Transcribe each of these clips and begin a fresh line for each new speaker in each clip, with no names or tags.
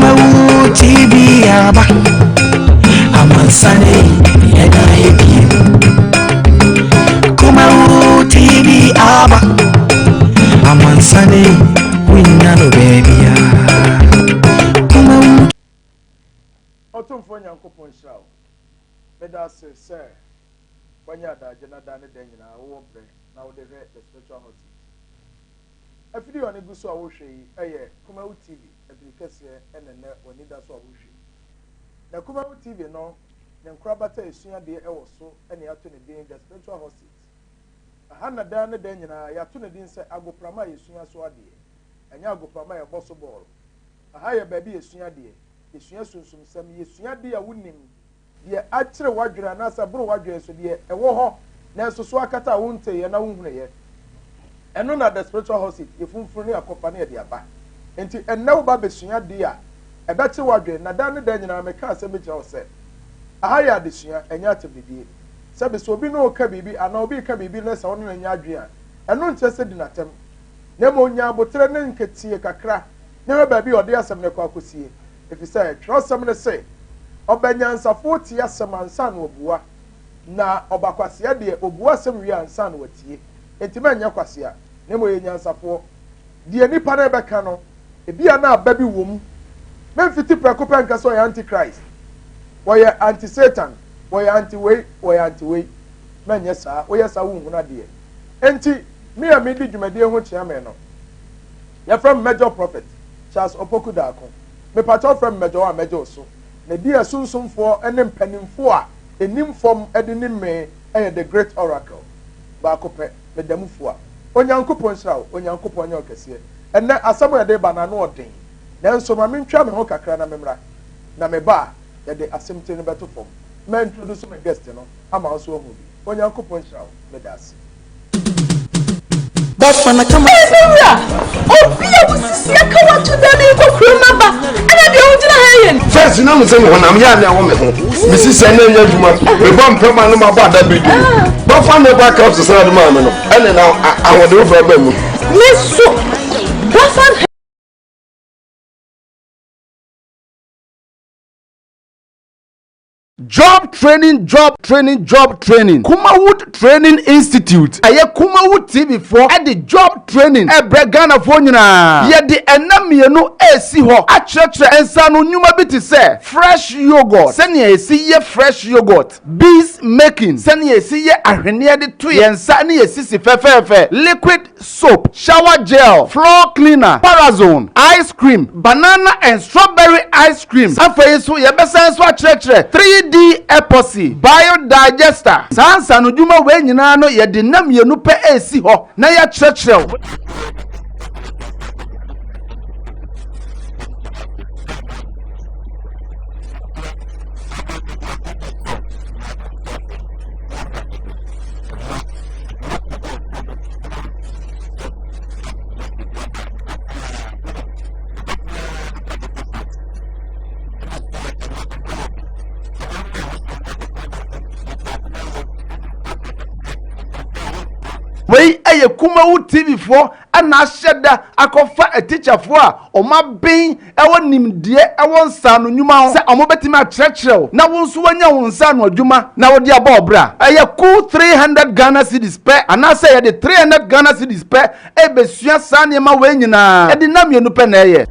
Kumawu TV aba amansane yɛda ebie Kumawu TV aba amansane wonya no baabia Kumawu
Ɔtomfoɔ Nyankopɔn nhyira wo meda ase sɛ wanya adagye na da ne da nyinaa wowɔ berɛ na wode hwɛ the spiritual hot Afidi a ɔne gu so a wohwɛ yi yɛ Kumawu TV afidi kɛseɛ ɛna nnɛ w'ani da so a wohwɛ yi. Na Kumawu TV no ne nkorabata a ɛsua adeɛ wɔ so na yɛato ne din The Spiritual Hot Seat. Ɛha na daa ne daa nyinaa yɛato ne din sɛ agoprama a yɛsua so adeɛ, ɛnyɛ agoprama a yɛbɔ so bɔɔlo. Ɛha yɛ baabi yɛsua adeɛ, yɛsua sunsumsɛm, yɛsua adeɛ a wonim, Deɛ akyere w'adwene anaasɛ aboro w'adwene so deɛ ɛwɔ hɔ nanso so akata a wonteeɛ na wonhunueɛ. Ɛno na the spiritual hot seat, yɛfunfunu ne akɔfa ne yɛde aba. Enti ɛnnɛ woba abɛsua adeɛ a ɛbɛkye w'adwene na daa ne daa nyinaa meka asɛm bi kyerɛ wo sɛ aha yɛ adesua ɛnyɛ atemdidie. Sɛbe sɛ obi ne wo reka biribi anaa obi reka biribi na sɛ wo ne no nyɛ adwene a ɛno nkyerɛ sɛ di no atɛm. na mmom nya abotire ne nketeɛ kakra na hwɛ baabi a ɔde asɛm no kɔ akɔsie, ɛfiri sɛ twerɛsɛm no se, Ɔba nyansafoɔ tie asɛm ansa na ɔbua, na ɔba kwasea deɛ, ɔbua asɛm wie ansa na watie. Enti manyɛ kwasea, na mmom yɛ nyansafoɔ. Deɛ nnipa no rebɛka no, ebia na aba bi wɔ mu. Memfiti prɛko pɛ nka sɛ ɔyɛ anti-Christ, ɔyɛ anti-Satan, ɔyɛ anti-wei, ɔyɛ anti-wei. Manyɛ saa. Woyɛ saa wonhunu adeɛ. Enti, me a medi dwumadie ho kyeame no, yɛfrɛ me Major Prophet Charles Opoku Darko. Mepakyɛw frɛ me Major a mɛgye wo so. Na di a sunsumfoɔ ne mpanimfoɔ a ɛnim fam de nim me yɛ The Great Oracle. Baako pɛ, meda mu fua. Onyankopɔn nhyira wo. Onyankopɔn nyɛ ɔkɛseɛ. Ɛnnɛ, asɛm a yɛde reba no, ano ɔden. Nanso ma mentwea me ho kakra na memmra. Na meba a, yɛde asɛmti no bɛto fam. Mɛintroduce me guest no ama wo nso woahu bi. Onyankopɔn
nhyira wo. Meda ase. Ɛyɛ me wura! Obi a wosia ka wato da ne kɔ kurom aba ɛna deɛ wogyina ha yɛ no. Fɛs na mo sɛ honam
yɛ anɛ wɔ me ho. Mesi sɛ ɛnɛ nyɛ adwuma. Mebɔ mpɛ ma no ma bɔ ada bi di. Bɛfa ne ba kap sesa ade maa me no. Ɛne na ahoɔden wo fɛ ba mu. Me so.
Bɛfa
Job Training Job Training Job Training Kumawood Training Institute Ɛyɛ Kumawood TV foɔ de Job Training rebrɛ Ghanafoɔ nyinaa. Yɛde nna mmienu resi hɔ akyerɛkyerɛ nsaano nnwuma bi te sɛ, Fresh Yoghurt, sɛnea yɛsi yɛ Fresh Yoghurt, Beads Making, sɛnea yɛsi yɛ ahweneɛ de to yɛn nsa ne yɛn sisi fɛfɛɛfɛ, Liquid, soap, shower gel, floor cleaner, parazone, ice cream, banana and strawberry ice creams. Afei nso, yɛbɛsan nso akyerɛkyerɛ 3D epoxy, biodigester. Saa nsaanodwuma wei nyinaa no, yɛde nna mmienu pɛ resi hɔ na yɛakyerɛkyerɛ wo. wei ɛyɛ kumawu tv foɔ ɛna ahyɛ da akɔfa atikyafoɔ a wɔn aben. wɔ nimdeɛ wɔ nsaano nnwuma ho sɛ wɔbɛtumi akyerɛkyerɛ wo na wo nso woanya wo nsaano adwuma na wode abɔ wo bra. Ɛyɛ kuw three hundred Ghana cedis pɛ anaasɛ yɛde three hundred Ghana cedis pɛ rebɛsua saa nneɛma wei nyinaa, ɛde nna mmienu pɛ na ɛyɛ.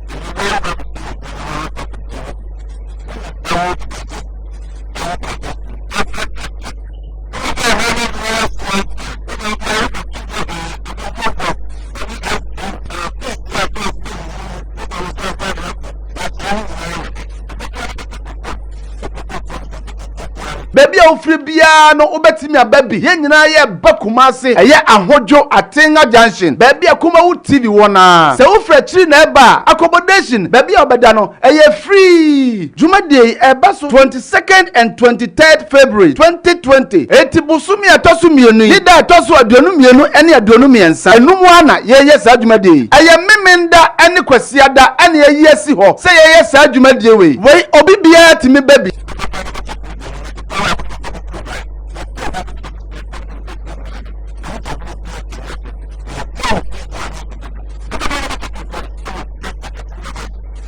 baabi a wofiri biara no wobɛtumi aba bi yɛn nyinaa yɛ ba kumase ɛyɛ ahodwo atenga junction baabi a kuma wo tv wɔ na sɛ wofiri akyiri na ɛba a accommodation baabi a wɔbɛda no ɛyɛ free Dwumadie yi ɛba so twenty second and twenty third February twenty twenty enti bosome a ɛtɔ so mmienu yi da a ɛtɔ so aduonu mmienu ɛne aduonu mmiɛnsa ɛnum ara na yɛyɛ saa dwumadie yi ɛyɛ Memenda ɛne Kwasiada ɛna yɛayi asi hɔ sɛ yɛyɛ saa dwumadie wei wei obi biara tumi ba bi.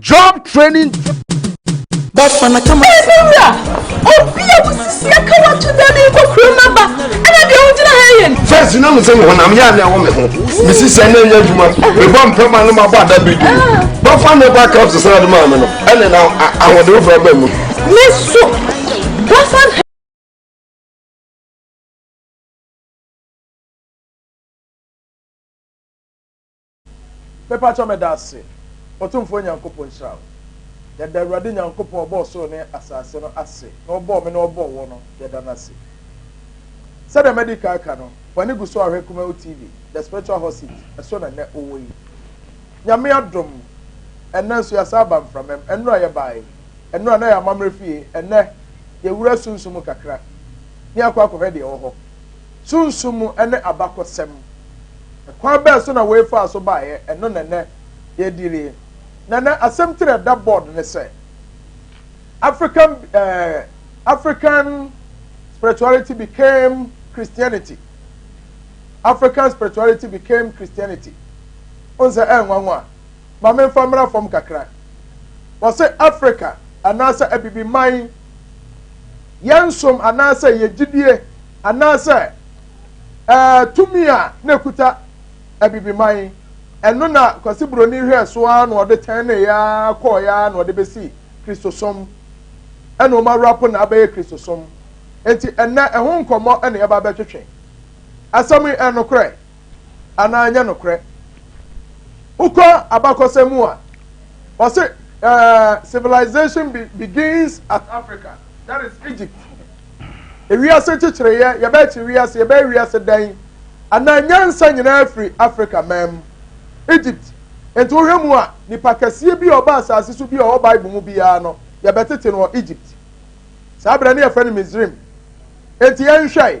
Job training.
Bafana kama. Ɛsɛ wura,
obi a wosi aka wato dan ne nkɔ kuro mu aba, ɛna deɛ wogyina ha yɛ no. Fɛs na mo sɛ honam
yɛ anɛ wɔ me ho. Mesi sɛ ɛnɛ nyɛ adwuma. Mebɔ mpɛma no mabɔ ada bi dum. Ah. Bɔfa ne ba kap sesa ade maa me no. Ɛne na ahoɔden wofra ba mu. Me so.
Bɔfa
Mepakyɛw meda ase. Otumfoɔ Nyankopɔn nhyira wo. Yɛda Awurade Nyankopɔn a ɔbɔɔ soro ne asase no ase na ɔbɔɔ me na ɔbɔɔ wo no, yɛda no ase. Sɛdeɛ madi kan aka no, w'ani gu so a ɔhwɛ Kumawu TV, The Spiritual Hot Seat, ɛso na nnɛ wowɔ yi. Nyame adom, ɛnnɛ nso yɛasan aba mframam. Ɛnnora yɛbaeɛ. Ɛnnora na yɛ amammerɛ fie. Ɛnnɛ, yɛawura sunsum mu kakra na yɛakɔ akɔhwɛ deɛ ɛwɔ hɔ. Sunsum ne abakɔsɛm. Kwan bɛn so na wei faa so baeɛ? Ɛno na nnɛ yɛredi wie. Na nnɛ asɛmti a ɛda bɔɔd ne sɛ, African, eh, African spirituality became Christianity. African spirituality became Christianity. Wohu sɛ ɛyɛ nwanwa. Ma memfa mmra fam kakra. Wɔse Africa anaasɛ abibiman yɛn som anaasɛ yɛn gyidie anaasɛ ɛɛ tumi a na ekuta abibiman ɛno na kwasi buroni hwɛɛ so ara na ɔde tɛn ne ya kɔɔ ya na ɔde besi kristosom ɛna wɔn awurapo na abɛyɛ kristosom nti ɛnɛ ɛho nkɔmɔ ɛna yɛba abɛtwetwe asɛm yi ɛnokorɛ. anaa ɛnyɛ nokorɛ. Wokɔ abakɔsɛm mu a, wɔse uh, civilization be, begins at Africa, that is Egypt. Ewiase kyekyereeɛ, yɛbɛkye wiase, yɛbɛyɛ wiase dan, anaa nyansa nyinaa firi Africa man mu, Egypt. Nti wohwɛ mu a, nipa kɛseɛ bi a ɔba asase so bi a ɔwɔ Bible mu biara no, yɛbɛtete no wɔ Egypt. Saa berɛ no yɛfrɛ no Misrim. Nti yɛnhwɛe.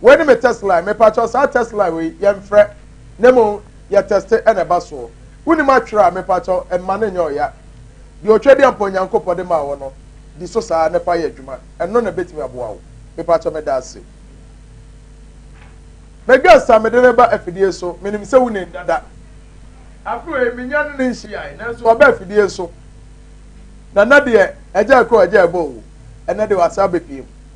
Wei ne me test line. Me pakyɛw saa test line wei yɛn frɛ ne mo yɛ teste ɛna ɛba soɔ. Wonim atwerɛ a me pakyɛw mma no nyɛ ɔya. Deɛ ɔtwa di ampa Onyankopɔ de maa wo no di so saa na fa yɛ adwuma. Ɛno na ɛbɛtumi aboa wo. Me pakyɛw me da ase. Me guest a me de no ba afidie so me nim sɛ wo nim dada. Afe wei me nya ne ne nhyiae nanso waba afidie so. Na na deɛ ɛgya ɛkɔ ɛgya ɛbɔ o. Ɛnɛ deɛ wasa abɛpiem.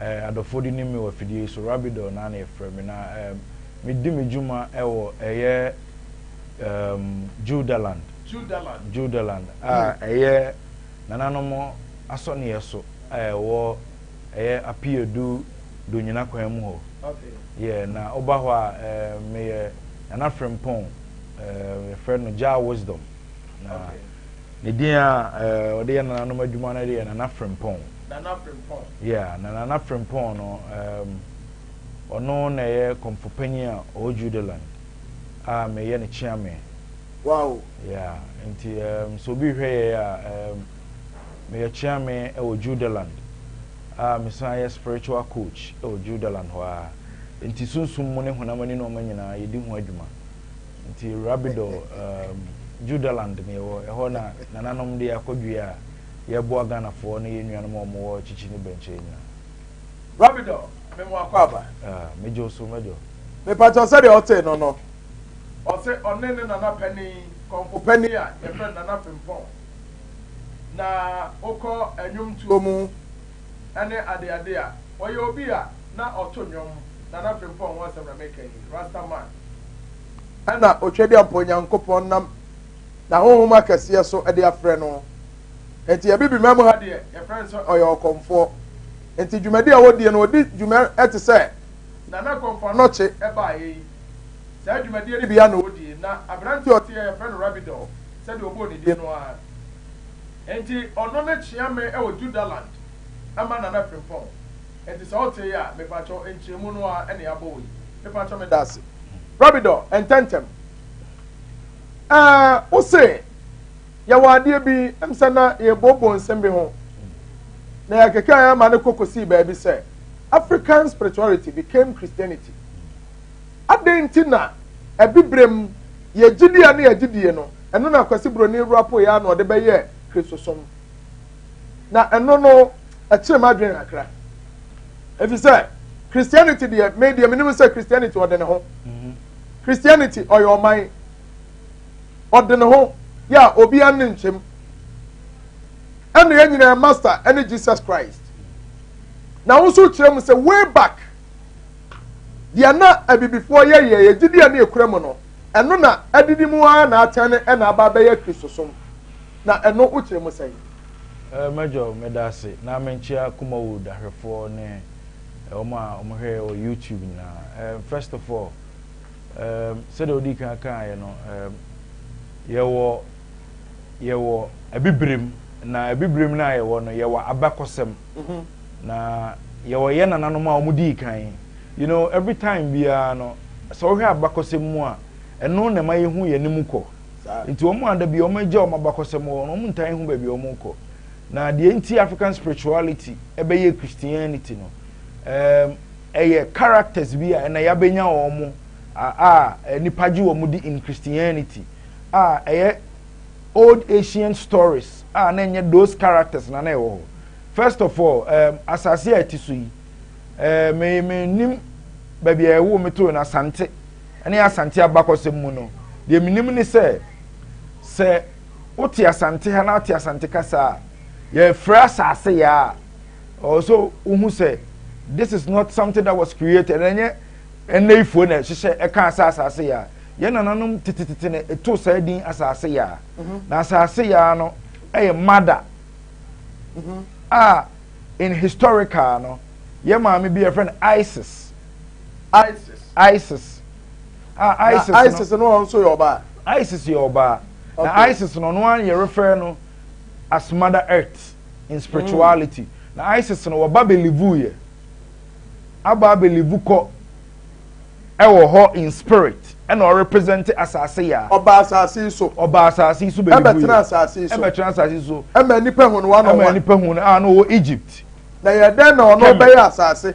Eh, adɔfoɔ de nim me wɔ afidie yi so, Rabidor na na yɛfrɛ me, na ehm, medi me dwuma wɔ ɛyɛ ehm, Judaland, Judaland, Judaland a hmm. ɛyɛ nananom asɔneɛ so a ɛwɔ ɛyɛ Apiedu Donyina kwan mu hɔ. Okay. Yɛ na woba hɔ a eh, meyɛ Nana Frimpong, eh, yɛfrɛ no Jah Wisdom. Na, okay. Ne din a eh, ɔde yɛ nananom adwuma no deɛ Nana Frimpong. Nana Frimpong. Yeah, na Nana Frimpong no um, ɔno na ɛyɛ kɔmfo panyin a ɔwɔ Judeland a meyɛ ne kyeame. Wow.
Yeah,
nti um, so obi hwɛ yɛ a um, meyɛ kyeame wɔ Judeland a mesan yɛ spiritual coach wɔ Judeland hɔ a nti sunsum mu ne honam ani nneɛma nyinaa yɛdi ho adwuma. Nti Rabidor um, Judaland na yɛwɔ, ɛhɔ na nananom de akɔdua a yɛboa Ghanafoɔ ne yɛn nuanom a wɔwɔ Kyikyi ne Bɛnkyɛ nyina. Rabidor,
me mo akɔ aba. Ah, megye wo so,
Major. Mepatɔ sɛdeɛ
ɔtee no no, ɔse ɔne ne nana panin, kɔmfo panin a yɛfrɛ no Nana Frimpong, na wokɔ nnwomtuo mu ne adeade a, ɔyɛ obi a na ɔto nnwom, Nana Frimpong ho asɛm na meka yi, Rasta man. ɛna Otwadiampɔ Nyankopɔn nam N'ahonhom akɛseɛ so de afrɛ no. Enti Abibiman mu ha deɛ, yɛfrɛ no sɛ ɔyɛ ɔkɔmfoɔ. Enti dwumadi a wɔdie no, wɔdi dwuma te sɛ Nana Kɔmfo Anɔkye baeɛ yi. Saa dwumadie no bi ara na wɔdie. Na aberanteɛ a ɔteɛ, yɛfrɛ no Rabidor, sɛdeɛ wɔbɔɔ ne din no ara. Enti ɔno ne kyeame wɔ Judaland ma Nana Frimpong. Ɛnti sɛ wote yi a, mepakyɛw nkyerɛmu no ara na yɛabɔ wɔ yi. Mepakyɛw meda ase. Rabidɔ, ntɛntɛm. Ɛɛ, wo se yɛwɔ adeɛ bi, ɛm sɛ na yɛrebɔbɔ nsɛm bi ho, na yɛkeka yɛn ama no kɔ kɔsii baabi sɛ African spirituality became Christianity. Adɛn nti na abibirem yɛgyidie a ne yɛgyedie no, ɛno na Kwasi Broni Rwapo yɛ a na ɔde bɛyɛ Kristosom. na ɛno no ɛkyerɛ mu adwene kakra efi sɛ christianity deɛ me deɛ menim sɛ christianity ɔde ne ho mhm. christianity ɔyɛ ɔman ɔde ne ho yɛ a obiara ne nkyɛm ɛna yɛn nyinaa master ɛne jesus christ na wɔn nso kyerɛ mu sɛ way back deɛ na abibifoɔ yɛ yɛ yɛ gyidi a ne ekura mu no ɛno na adidi mu ara na atɛn ne ɛna aba abɛyɛ kristosom. Na ɛno wo kyerɛ mu sɛn? Eh, Major
meda ase, na menkyea Kumawood ahwɛfoɔ ne wɔn a wɔn hwɛ yɛ wɔ YouTube nyinaa. Eh, first of all, eh, sɛdeɛ wodii kan kaa yɛ no, eh, yɛwɔ, yɛwɔ abibirem, na abibirem no a yɛwɔ no, yɛwɔ abakɔsɛm, mm-hmm. na yɛwɔ yɛ nananom a wɔn dii kan. You know, every time biara no, sɛ wohwɛ abakɔsɛm mu a, ɛno na ɛma yɛhu yɛn anim kɔ. Nti wɔn a da biara wɔagya wɔn abakɔsɛm hɔ no, wɔntaa nhu baabi a wɔrekɔ. Na deɛ nti African spirituality ɛbɛyɛ Christianity no, um, ɛyɛ characters bi a ɛna yɛabɛnya wɔn mo a nnipa gye wɔn di in Christianity a ɛyɛ old ancient stories a na ɛnyɛ those characters na na ɛwɔ hɔ. First of all, um, asase a ɛte so yi, uh, me menim baabi a ɛwo metoo no Asante. ne Asante abakɔsɛm mu no, deɛ menim ne sɛ, sɛ wote Asante ha na wote Asante kasa a, yɛfrɛ asase yɛ a, ɛwɔ sɛ wohu sɛ this is not something that was created ɛnyɛ ɛnɛyifoɔ na ɛhyehyɛ ɛkaa sɛ asase yɛ a yɛn nananom tetetete na ɛtoo saa din asase yɛ a mhm. na asase yɛ a no ɛyɛ mada mhm. a in historical no yɛ maame bi yɛfrɛ no isis isis isis a ah, isis na isis no ɔno nso yɛ
ɔbaa isis yɛ ɔbaa
na isis no ɔno ara yɛrefrɛ no as mother earth in spirituality mm. na isis no wɔba belivu yɛ aba belivu kɔ ɛwɔ hɔ in spirit ɛna ɔrepresente asase yɛ a.
ɔba asase so. ɔba asase so bɛbi bu yɛ ɛbɛtena
asase
so ɛbɛtena asase so. ɛma nipa hu no wa na ɔwa ɛma nipa hu no a na ɔwɔ egypt.
na yɛ dɛn na
ɔno bɛyɛ asase.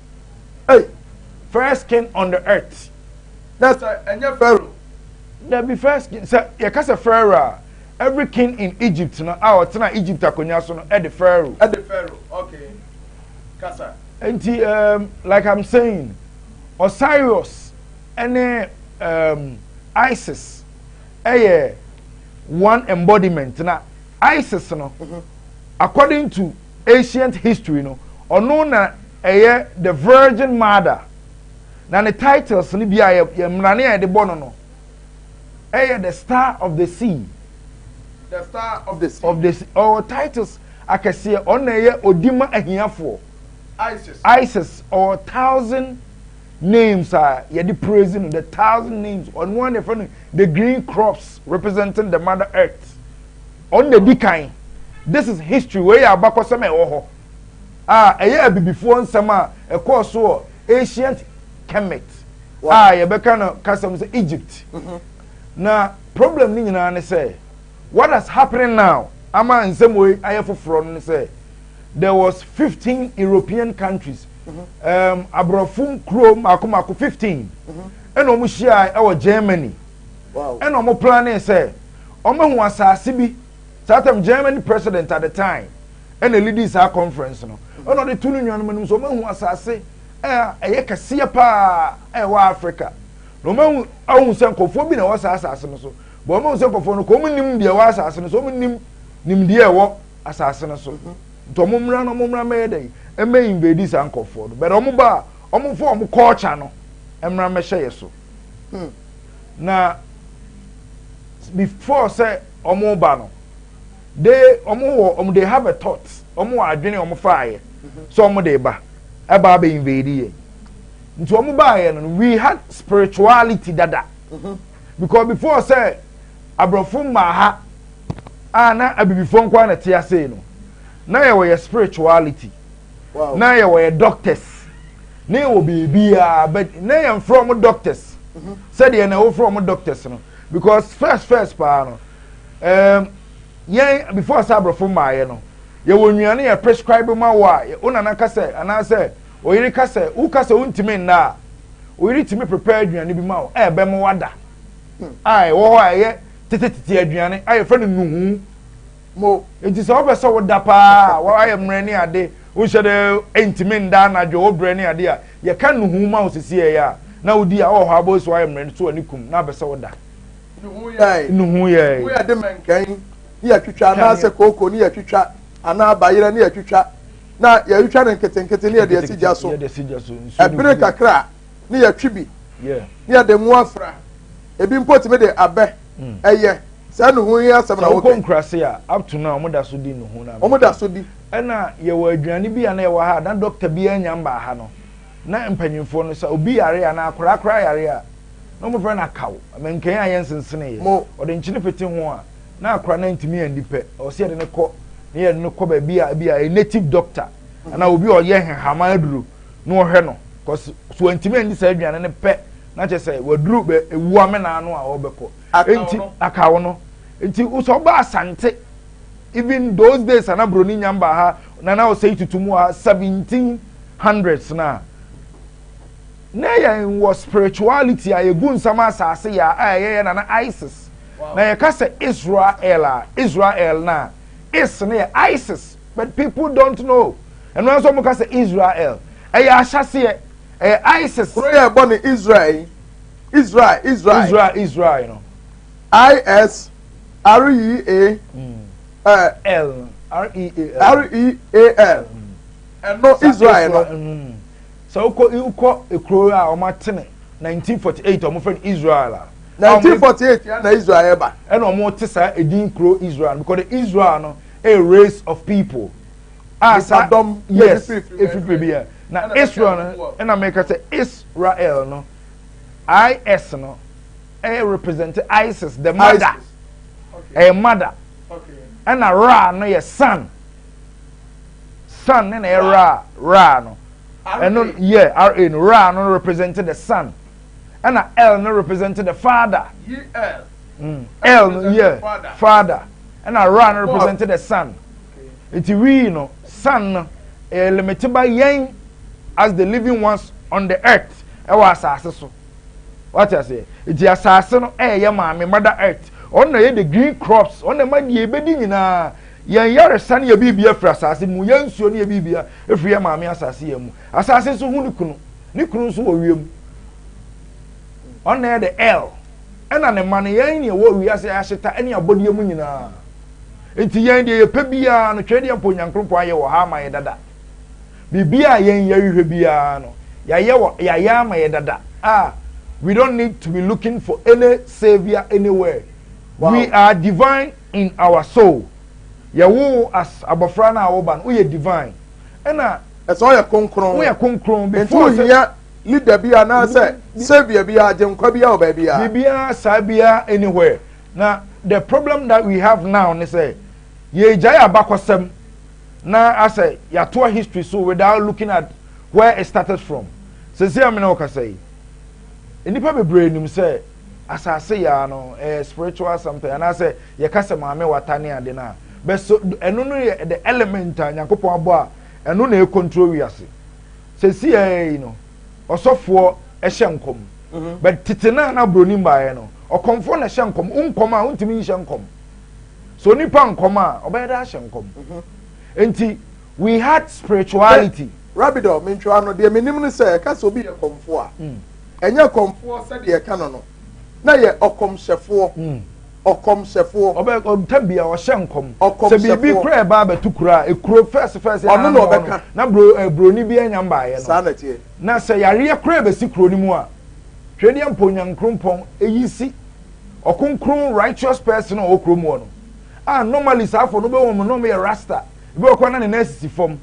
Hey,
first
king on the earth. Na sɛ
ɛnyɛ Pharaoh. Na bi
first king sɛ yɛka sɛ Pharaoh a every king in Egypt no a ɔtena Egypt akonnwa so no ɛde Pharaoh. Ɛde Pharaoh
okay kasa. Nti um,
like I'm saying Osiris ɛne um, Isis ɛyɛ one embodiment na Isis no mm-hmm. according to. Ancient history no, ɔno na ɛyɛ the virgin mother. Na ne titles no bi a yɛ yɛ mmerane a yɛde bɔ no no ɛyɛ the star of the sea. The
star of the sea. Of the sea. Ɔwɔ titles
akɛseɛ. Ɔno na ɛyɛ odi ma ahiafoɔ. Isis. Isis ɔwɔ thousand names a yɛde praise no the thousand names ɔno a na yɛfrɛ no the green crops representing the mother earth. Ɔno na edi kan. This is history, wei yɛ abakɔsɛm a ɛwɔ hɔ a ɛyɛ abibifoɔ nsɛm a ɛkɔɔ so wɔ ancient Kemet a yɛbɛka no kasam sɛ Egypt. Mm-hmm. Na problem no nyinaa ne sɛ what has happening now ama nsɛm wei ayɛ foforɔ no ne sɛ there was 15 European countries mm-hmm. um, aborɔfo nkuro mako mako 15 ɛna wɔn hyia ɛwɔ Germany. ɛna ɔmo planee sɛ ɔmo hu asaase bi saa tam germany president at the time ɛna elidi saa conference no ɛna ɔde tu no nuanom anim sɛ ɔmo hu asaase ɛyɛ ɛyɛ kɛseɛ paa ɛwɔ africa na ɔmo ahu ahu sɛ nkɔfoɔ bi na ɛwɔ saa asaase no so bɔn ɔmo ahu sɛ nkɔfoɔ no kɔ ɔmo nim deɛ ɛwɔ asaase no so ɔmo nim nimdeɛ ɛwɔ asaase no so mhm. nti ɔmo mmra no ɔmo mmra mɛyɛ dɛ ɛmɛ invade saa nkɔfoɔ no bɛrɛ ɔmo ba ɔmo fɔ ɔmo culture no mmra mɛhyɛ yɛ so. Hmm. Na before sɛ wɔn ba no, they wɔn wɔ wɔn they have a thought wɔn wɔ adwene wɔn faayɛ mm-hmm. sɛ wɔn de ba ɛba abɛ invade yɛ nti wɔn baayɛ no we had spirituality dada mm-hmm. because before sɛ aborɔfo mmaa ha a na abibifoɔ nkoa na te ase no na yɛ wɔ yɛ spirituality. na yɛ wɔyɛ doctors na yɛ wɔ biribiara but na yɛn frɛ wɔn doctors mhm. sɛdeɛ na wofrɛ wɔn doctors no because first first paa no um, yɛn before sɛ aborɔfo mmaayɛ no yɛwɔ nnuane yɛ prescribe ma wɔ a wo nana ka sɛ anaasɛ oyere ka sɛ wo ka sɛ wontumi nna a oyere tumi prepare aduane bi ma wo a ɛbɛn mo wada hmm. a ɛwɔ hɔ a ɛyɛ tetetete aduane a yɛfrɛ no nuhu. mo. Enti sɛ wopɛ sɛ woda paa a, woayɛ mmerɛ ne ade, wonhyɛ da ntumi nda anadwo, wobrɛ ne adeɛ a, yɛka nnuhuu ma wo sesieɛ a, na wodi a, wowɔ hɔ a, boys woayɛ mmerɛ, to w'ani kum, na wopɛ sɛ woda. Nnuhuu yɛe. Nnuhuu yɛe. Mu yɛde mɛnkan
ne yɛtwitwa anaasɛ kooko ne yɛtwitwa anaa bayerɛ ne yɛtwitwa, na yɛtwitwa no nketenkete ne yɛde asi gya so. Ɛbene kakra a, ne yɛtwe bi, ne yɛde ngo afra. Ebi mpo tumi de abɛ Mm. Ɛyɛ sɛ ne ho hia asɛm na wokɛ. Sɛ wokɔ nkurase a, up to
now, wɔn da so di ne ho na. Wɔn da so di.
Ɛna yɛwɔ
aduane bi a na yɛwɔ ha a, na dɔkta bi anya mbaa ha no. Na mpanyinfoɔ no sɛ obi yare a, na akwaraa koraa yare a, na wɔn fɛ no akaw, mɛnkɛn a yɛnsensene yɛ. Mo. Wɔde nkyene pete ho a, na akwaraa no ntumi andi pɛ. Ɛwɔ sɛ yɛde no kɔ, na yɛde no kɔ baabi a ebi a yɛ native doctor, mm. anaa obi a ɔyɛ nhama aduro, na ɔhwɛ no, kɔsi so ntumi andi saa aduane no pɛ. Na kyerɛ sɛ waduru bɛ ewu amena ano a ɔbɛkɔ. Enti akawo no. Enti wosɛ ɔba asante even those days a na broni nya mba ha na na ɔsɛ yi tutu mu wɔ ha seventeen hundreds no a na yɛ wɔ spirituality a yɛ gu nsam asase yɛ a yɛ yɛ na na isis na yɛ ka sɛ israel a israel na is no yɛ isis but people don't know ɛno nso ɔmo ka sɛ israel ɛyɛ ahyaseɛ ɛyɛ isis. kuro yɛ ɛbɔ ne
israel yi israel israel israel israel no. is r e a l r e a
l r e
a l ɛno israel no. sɛ wokɔ
wokɔ ekuro a wɔn atene nineteen forty eight wɔn fɛ no israel a. nineteen forty eight
yɛn na israel ba. ɛna wɔn te saa
edin kuro israel because the israel no a race of people. a saa dɔm yes efiri pere bi a na israel no ɛna mɛka sɛ israel no is no ɛyɛ represent isis the mother ɛyɛ mother ɛna ra no yɛ sun sun ne na yɛ ra ra no ɛno yɛ ra no ra no represent the sun ɛna l no represent the father
l mm. no
yɛ father ɛna ra no represent the sun. Nti wii no san no ɛyɛ limite ba yɛn as the living ones on the earth ɛwɔ asase so wate aseɛ nti asase no ɛyɛ maame mother earth ɔno na ɛyɛ the green crops ɔno na ɛma deɛ ɛbɛdi nyinaa yɛn yaresa no yɛ biribi afiri asase mu yɛn nsuo no yɛ biribi afiri yɛn maame asase yɛn mu asase nso ho ne kunu ne kunu nso wɔ wiem ɔno na ɛyɛ the l ɛna ne ma no yɛn ne ɛwɔ wiase ahyeta ɛne abɔdeɛ mu nyinaa Enti yɛn deɛ yɛpɛ biara no, twɛdeɛ mpo Nyankrompɔn ayɛ wɔ ha ama yɛ dada. Biribiara a yɛn yɛhwehwɛ biara no, yɛayɛ wɔ, yɛayɛ ama yɛ dada. Ah, we don't need to be looking for any saviour anywhere. We are divine in our soul. Yɛwoo wo as abɔfra no a woba no, woyɛ divine. Ɛna. Ɛsɛ woyɛ
kronkron. Woyɛ kronkron before sɛ. Enti
wohia leader
bi anaasɛ saviour bi, agyenkwa bi wɔ baabiara. Biribiara saa biara
anywhere. Na the problem that we have now ne sɛ yɛgyae abakɔsɛm na asɛ yɛatoa history so without looking at where it started from. Sɛsi a mene wo kasa yi, nnipa bebree nim sɛ asase yaa no ɛyɛ spiritual something anaasɛ yɛka sɛ maame wata ne ade no a bɛso ɛno no yɛ the element a Nyankopɔn abɔ a ɛno na ɛcontrol wiase. Sɛsi a yi no, ɔsɔfoɔ hyɛ nkɔm mhm. but tete no a na buroni mbaeɛ no ɔkɔmfoɔ na hyɛ nkɔm nkɔm a wontumi nhyɛ nkɔm so onipa nkɔm a ɔbɛyɛ dɛ ahyɛ nkɔm mhm. nti we had spirituality. rabidɔ mentwa
no deɛ menim no sɛ ɛka sɛ obi yɛ kɔmfoɔ a mm. ɛnyɛ kɔmfoɔ sɛdeɛ ɛka no no na yɛ ɔkɔmhyɛfoɔ mm. Ɔkɔmhyɛfoɔ. Ɔbɛ ɔntɛ bia
ɔhyɛ nkɔm. Ɔkɔmhyɛfoɔ. Sɛ biribi kura ɛba abɛto kuro a ekuro fɛs fɛs. Ɔno na ɔbɛka.
Na bro broni
bi anya mbaayɛ no. Saa na ɛteɛ. Na sɛ
yareɛ
kura ɛbɛsi kuro no mu a twedeɛ mpo nyankrompɔn eyi si ɔkonkron righteous person a ɔwɔ kuro mu hɔ no a normally saa fo no bɛ wɔn nom yɛ rasta ebi wɔ kɔ na ne nan sisi fam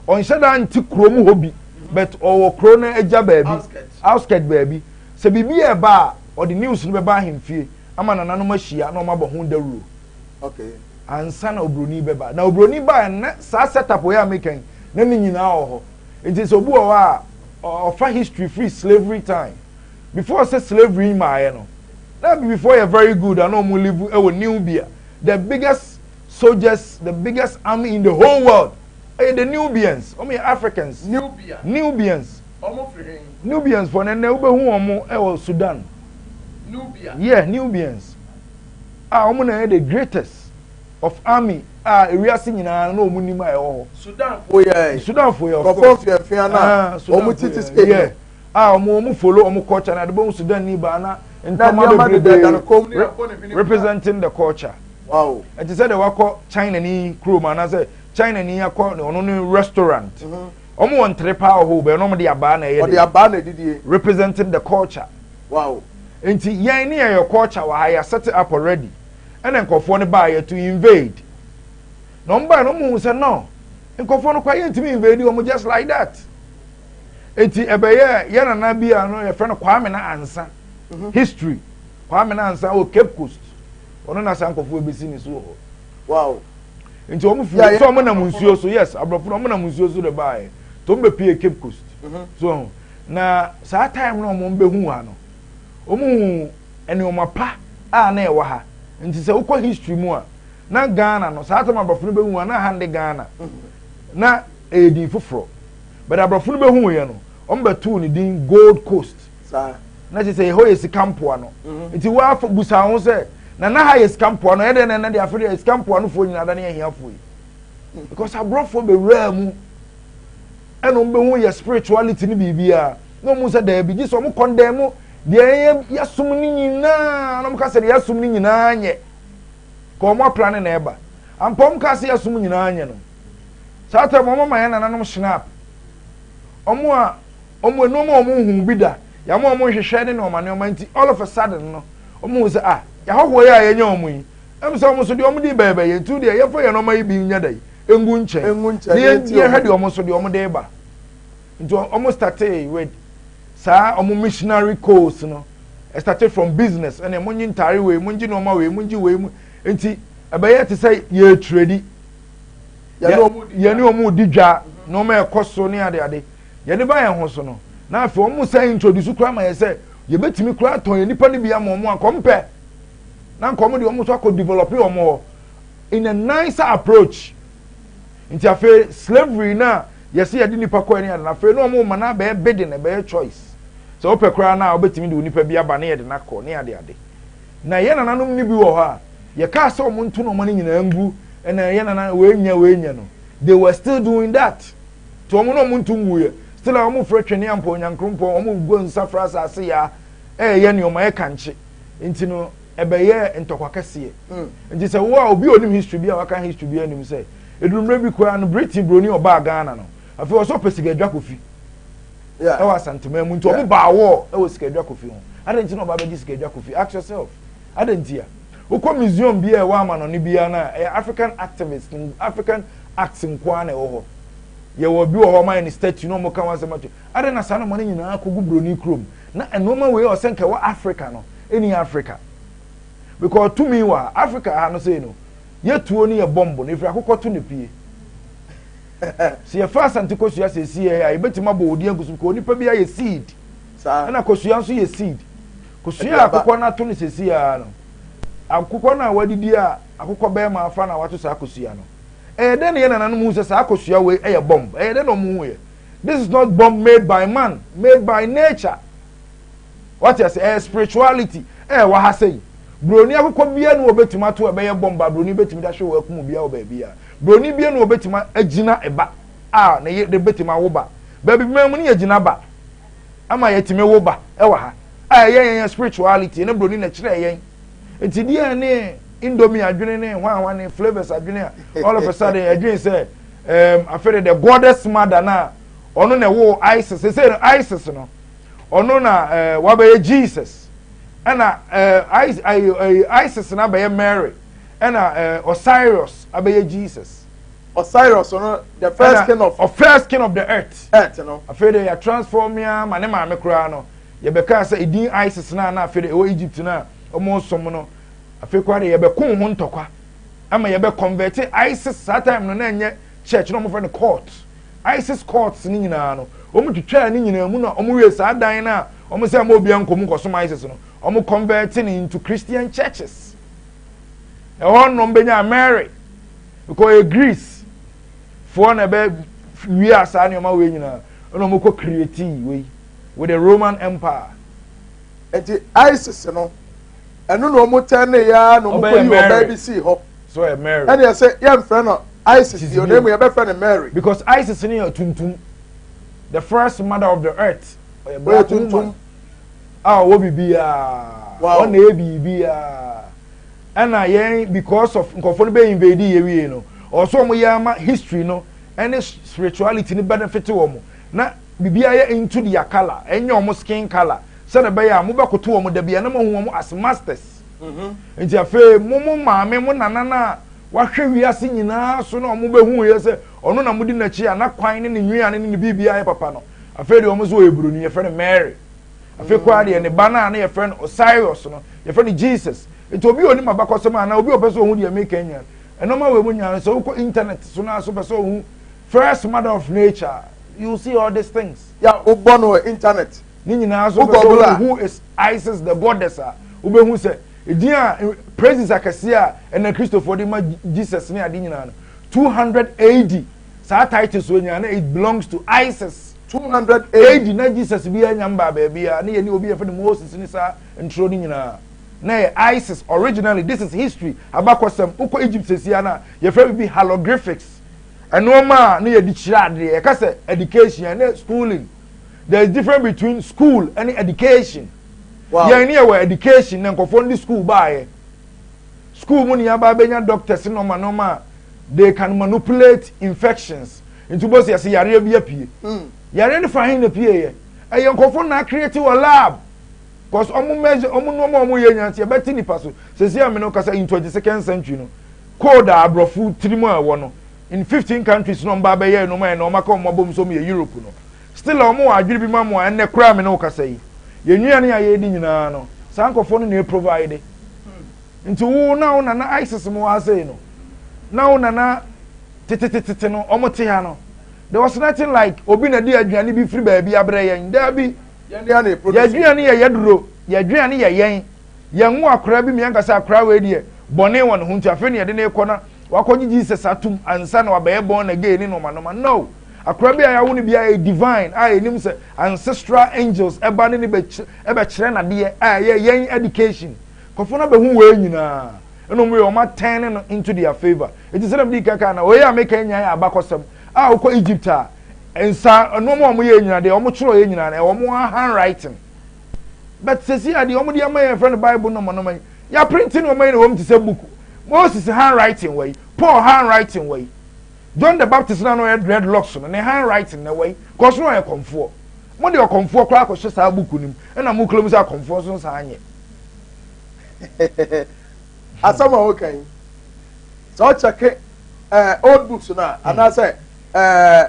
ɔnhyɛ daa nti kuro mu hɔ bi but ɔwɔ kuro no agya baabi outskirt baabi sɛ biribi ɛba a ɔde news no bɛba ahemfie. ama nananom ahyia na wɔabɔ ho dawuro okay
ansa na
obroni bɛba na obroni baa na saa setup wei a meka yi na ne nyinaa wɔ hɔ nti sɛ obi wɔ hɔ a ɔfa history free slavery time before sɛ slavery yi maaeɛ no na before yɛ very good ana ɔmo live ɛwɔ Nubia the biggest soldiers the biggest army in the whole world ɛyɛ the Nubians ɔmo yɛ Africans Nubia Nubians Nubians fɔ no ɛnɛ wobɛhu wɔn ɛwɔ Sudan. Nubia.
Yeah, Nubians.
A wɔn na yɛ the greatest of army a ewiase nyinaa na wɔn nim a ɛwɔ hɔ. Sudan fo
yɛ. Sudan fo yɛ. Kɔfɔ fiafia na wɔn titi skin. Yeah. A wɔn
wɔn follow wɔn culture na de bɔ Sudan ni ba na ntoma bebrebe representing the culture. Wow. Ɛte sɛ
de wakɔ
China ni kurom anaasɛ China ni akɔ ɔno ne restaurant. Mm -hmm. Ɔmo wɔ ntere paa wɔ hɔ bɛn na ɔmo de abaa na ɛyɛ dɛ. Ɔde abaa na ɛdidie.
Representing the culture.
Wow.
Nti yɛn
ne yɛyɛ culture wɔ ha yɛ set it up already ɛna nkorɔfoɔ no baayɛ to invade na ɔmo baayɛ na ɔmo hu sɛ no nkorɔfoɔ no kora yɛn ntumi invade ɔmo just like that nti ɛbɛyɛ yɛn nana bi a no yɛfrɛ no Kwame na Ansa mhm. history Kwame na Ansa wɔ Cape Coast ɔno na saa nkorɔfoɔ ebesi ne so wɔ hɔ. wow
nti wɔn
fi yeah, yeah. so wɔn nam nsuo so yes aborɔfo wɔn nam nsuo so de baayɛ to wɔn bɛ pie cape coast mm-hmm. so na saa time na wɔn bɛ hu ha no wɔn hu nneɛma pa a na ɛwɔ ha nti sɛ wokɔ history mu a na ghana no saa time aborɔfo no bɛ hu a na ha de ghana mm-hmm. na ɛyɛ din foforɔ bɛrɛ aborɔfo no bɛ hu yɛ no wɔn bɛ tu ne din gold coast. saa na kyerɛ
sɛ ɛhɔ yɛ
sika mpoa no mhm. nti woafa busa ho sɛ na na ha yɛ sika mpoa no ɛyɛ dɛn na ɛna de afei deɛ sika mpoa no foɔ nyinaa da ne ahiafoɔ yi mhm. because aborɔfoɔ bɛwuraa mu ɛna wɔn bɛhu yɛ spirituality ne biribiara na wɔn sɛ daabi gye sɛ wɔn kɔndɛn mu deɛ yɛsom no nyinaa na wɔn ka sɛ deɛ yɛsom no nyinaa nyɛ ka wɔn apla ne na ɛba ampa wɔn ka sɛ yɛsom nyinaa nyɛ no saa tɛm wɔn ama yɛn nananom snap wɔn a wɔn nneɛma a wɔn hu bi da yɛn a wɔn nhwehwɛ ne nneɛma nneɛma nti all of a sudden no wɔn hu sɛ ah yɛahɔhoɔ yi a yɛnyɛ wɔn yi ɛmu sɛ wɔn so deɛ wɔn de bɛyɛ bɛyɛ nti deɛ yɛfa yɛn nneɛma yi bi nyɛ da yi engu nkyɛn ne yɛn deɛ hwɛ deɛ wɔn so deɛ wɔn de ba nti wɔn startee with saa wɔn missionary course no started from business ɛnna wɔn nye ntaare wei wɔn gye nneɛma wei wɔn gye wei mu nti ɛbɛyɛ te sɛ yɛ trade yɛne wɔn di dwa nneɛma ɛkɔ so ne adeade. yɛde ba yɛn ho so no na afei wɔn san introduce koraa ma yɛ sɛ yɛbɛtumi koraa atɔn yɛn nipa no bi ama wɔn anka wɔn pɛ na anka wɔn de wɔn nso akɔ develop wɔn hɔ in a nicer approach nti afei slavery na yɛsi yɛde nipa kɔ ɛne adana afei na wɔn ma na abɛyɛ bidding ɛbɛyɛ choice sɛ wɔpɛ koraa na wɔbɛtumi de wɔn nipa bi aba ne yɛde n'akɔ ne ade ade na yɛn nananom no bi wɔ hɔ a yɛkaa sɛ wɔn nto na wɔn nyinaa ngu ɛna yɛn nana wɔn enya wɔn enya no they were still doing that. So wɔn na wɔn nto nguiɛ? Still a wɔn frɛ twene ampa Onyankrompɔn, wɔn rebɔ nsa frɛ asase yaa, ɛreyɛ nneɛma, ɛreka nkye. Nti no, ɛbɛyɛɛ ntɔkwa kɛseɛ. Nti sɛ wo a obi a onim history bi a waka history biara nim sɛ, ɛduru mmerɛ bi koraa no, Britain broni ɔbaa Ghana no, afei ɔwɔ sɛ ɔpɛ sika adwa kofi ɛwɔ Asanteman mu, nti wɔn baa war ɛwɔ sika adwa kofi ho. Adɛn nti na ɔba abɛgye sika adwa kofi? Ask yourself. Adɛn ntia? Wokɔ museum biara a ɛwɔ amanɔne biara no a, ɛyɛ African activist, African arts nko ara na ɛwɔ hɔ. Yɛwɔ bi wɔ hɔ a wɔayɛ no statue na wɔka ho asɛm ato. Adɛn na saa nneɛma no nyinaa kɔgu buroni kurom? Na nneɛma wei a ɔsɛ nka ɛwɔ Africa no, ɛnni Africa. Because tumi wɔ ha. Africa ha no sei no, yɛ tuo ne yɛ bɔmbo no, ɛfiri akokɔ to na ɛpue. Sɛ yɛfa Asante Kosua sɛ ɛsi yɛ ha a, yɛbɛtumi abɔ odin agu so because onipa biara yɛ seed. Saa. Ɛna kosua nso yɛ seed. Kosua a akokɔ no ato no sɛsi ara no, akokɔ no a wadidi a akokɔ bɛrima afa no a wato saa kosua no, ɛyɛ dɛn na yɛ nananom hu sɛ saa kosua wei ɛyɛ bomb? Ɛyɛ dɛn na wɔn hu yɛ? This is not bomb made by man, made by nature. Wate ase, ɛyɛ spirituality ɛyɛ wɔ ha sɛyi. Broni akokɔ bia no wɔbɛtumi ato ɛbɛyɛ bomb a broni bɛtumi da hwe wɔ akumu bia wɔ baabi a. Broni bia no wɔbɛtumi agyina ɛba a na yɛ bɛtumi awo ba. Baabi bɛn mu no yɛ gyina ba. ama yɛtumi wo ba wɔ ha a ɛyɛ yɛn yɛn spirituality ne broni na ɛkyerɛ yɛn nti deɛ ne indomie adwene ne hwanhwa ne flavours adwene a all of a sudden adwene sɛ um, afei the goddess mother na ɔno na ɛwɔ isis sɛ no isis no ɔno na eh, wabɛyɛ jesus ɛna eh, eh, isis na abɛyɛ mary ɛna osiris abɛyɛ jesus Osiris
no the first king of. Ɔfirst king of the earth. Earth no. Afei de yɛ
transform ya ma ne maame koraa no yɛbɛkaa sɛ edin Isis no a na afei de ɛwɔ Egypt no a wɔsom no afei koraa de yɛbɛko ho ntɔkwa ama yɛbɛ convert Isis saa time no na ɛnyɛ church na wɔfrɛ no court Isis courts no nyinaa no wɔn twitwaa ne nyinaa mu na wɔn wie saa dan no a wɔn sɛ ɛma obiara nkɔm nkɔsom Isis no wɔn convert no into Christian churches ɛhɔ nom bɛnya Mary Nka ɔyɛ Greece foɔ na ɛbɛ wia saa nneɛma wei nyinaa ɛna wɔn kɔ create wei with the Roman Empire. Nti
ISIS no ɛno na wɔn tɛn ne ya na wɔn kɔ yi ɔbaa bi sii hɔ. So ɔyɛ Mary. Ɛna yɛ
sɛ yɛn fɛ no
ISIS yɛ ɔna emu yɛ bɛ fɛ no Mary. Because ISIS no yɛ
tuntum the first mother of the earth ɔyɛ black
woman a ɔwɔ
bibi yaa ɔna yɛ bibi yaa. Ɛna yɛn because of nkɔfoɔ no bɛ invade yɛ wie no ɔwɔ so wɔn yɛ ama history no ɛne spirituality no benefit wɔn na bibi ayɛ into their colour ɛnyɛ wɔn skin colour sɛdeɛ bɛyɛ a mo bɛ koto wɔn dabi ɛna mo ho wɔn as masters mhm. nti afei mo mo maame mo nana na wahwɛ wiase nyinaa so na wɔn bɛ hu yɛ sɛ ɔno na mo di n'akyi a na kwan ne ne nwiane ne ne biribi ayɛ papa no afei deɛ wɔn nso wɔyɛ buroni yɛfrɛ no Mary afei koraa deɛ ne ba no a na yɛfrɛ no osiris no yɛfrɛ no jesus nti obi a onim abakɔsɛm a anaa obi a ɔpɛ sɛ ɔhu deɛ meka nyina ɛnɔma wɔ mu nyinaa no sɛ wokɔ internet so no aso pɛ sɛ ɔhu first mother of nature you see all these things ya wobɔ no wɔ
internet ne nyinaa so
pɛ sɛ ɔhu is isis the goddess a wobɛhu sɛ ɛdin a praises akɛseɛ a ɛna kristofoɔ de ma jesus ne ade nyinaa no 200 ad saa title so nyinaa na it belongs to isis two hundred AD. na Jesus biara nnya mmbaa baabiara, ne yɛne obi a yɛfrɛ no Moses ne saa ntoro no nyinaa na ɛyɛ Isis originally, this is history, abakɔsɛm, wokɔ Egypt sesiaa no a yɛfrɛ biribi Halogriphics, nnoɔma a na yɛde kyerɛ adeɛ, yɛka sɛ education a ɛnɛ schooling, there is different between school ɛne education, wow. yɛn ne yɛwɔ education na nkɔfoɔ no de school baayɛ, school mu ne yɛaba abɛnya doctors nnoɔma nnoɔma a they can manipulate infections, Nti wobɛsi ase yareɛ bi apue. Hmm. Yareɛ no fa he na pieeɛ. Ɛyɛ nkɔfo na akreti wɔ lab. Cause ɔmo mɛs ɔmo nneɛma ɔmo yɛ nyansi ɛbɛte nipa so. Sɛsi a mene kasa into the second century no. Code a aborɔfo tirim a ɛwɔ no. In fifteen countries na ɔmo ba abɛyɛ ɛnom a ɛnɛ ɔmo aka ɔmo abom sɛ ɔmo yɛ Europe no. Still a ɔmo wɔ adwene bi ma mo a ɛnɛ koraa mene kasa yi. Yɛn nnuane a yɛdi nyinaa no saa nkɔfo no na ɛprovide. Nti wo na wo nana isis mo wɔ ha sei no na wo nana tetetetete no ɔmo te ha no there was nothing like obi na di aduane bi firi baabi abrɛ yɛn daabi yɛaduane yɛ yɛduro yɛaduane yɛ yɛn yɛn wo akora bi mmiɛnka sɛ akora wei deɛ bɔne wɔ ne ho nti afei ne yɛde ne kɔ na wakɔgye jesus atom ansa na wabɛyɛ bɔn na gay ne nɔma nɔma no akora bi a yɛawo no biara yɛ divine a yɛnim sɛ ancestral angels ɛba ne ne bɛkyerɛ nadeɛ a ɛyɛ yɛn education Nkorɔfoɔ no abɛhu wei nyinaa, ɛna wɔn wei wɔn a turn no into their favour. Enti sɛdeɛ medii kan kaa no, wei a meka yi nyinaa yɛ abakɔsɛm a wokɔ Egypt a, nsa, nnoɔma a wɔyɛɛ nyinaa, deɛ wɔtwerɛeɛ nyinaa no, ɛwɔ wɔn handwriting. But seesei a deɛ wɔde ama yɛn yɛfrɛ no Bible nɔmanɔma yi, yɛaprinte nnoɔma yi na ɛwɔ mu te sɛ book. Moses handwriting wɔ yi, Paul handwriting wɔ yi, John the Baptist no a na ɔyɛ dreadlocks no, ne handwriting na ɛwɔ yi, cause na ɔyɛ kɔmfoɔ. Mode ɔkɔmfoɔ koraa akɔhyɛ saa book no mu, ɛna mokura mu sɛ akɔmfoɔ nso nsaa nyɛ.
asɛm a woka yi sɛ ɔkyɛke eh, old books no a anaasɛ eh,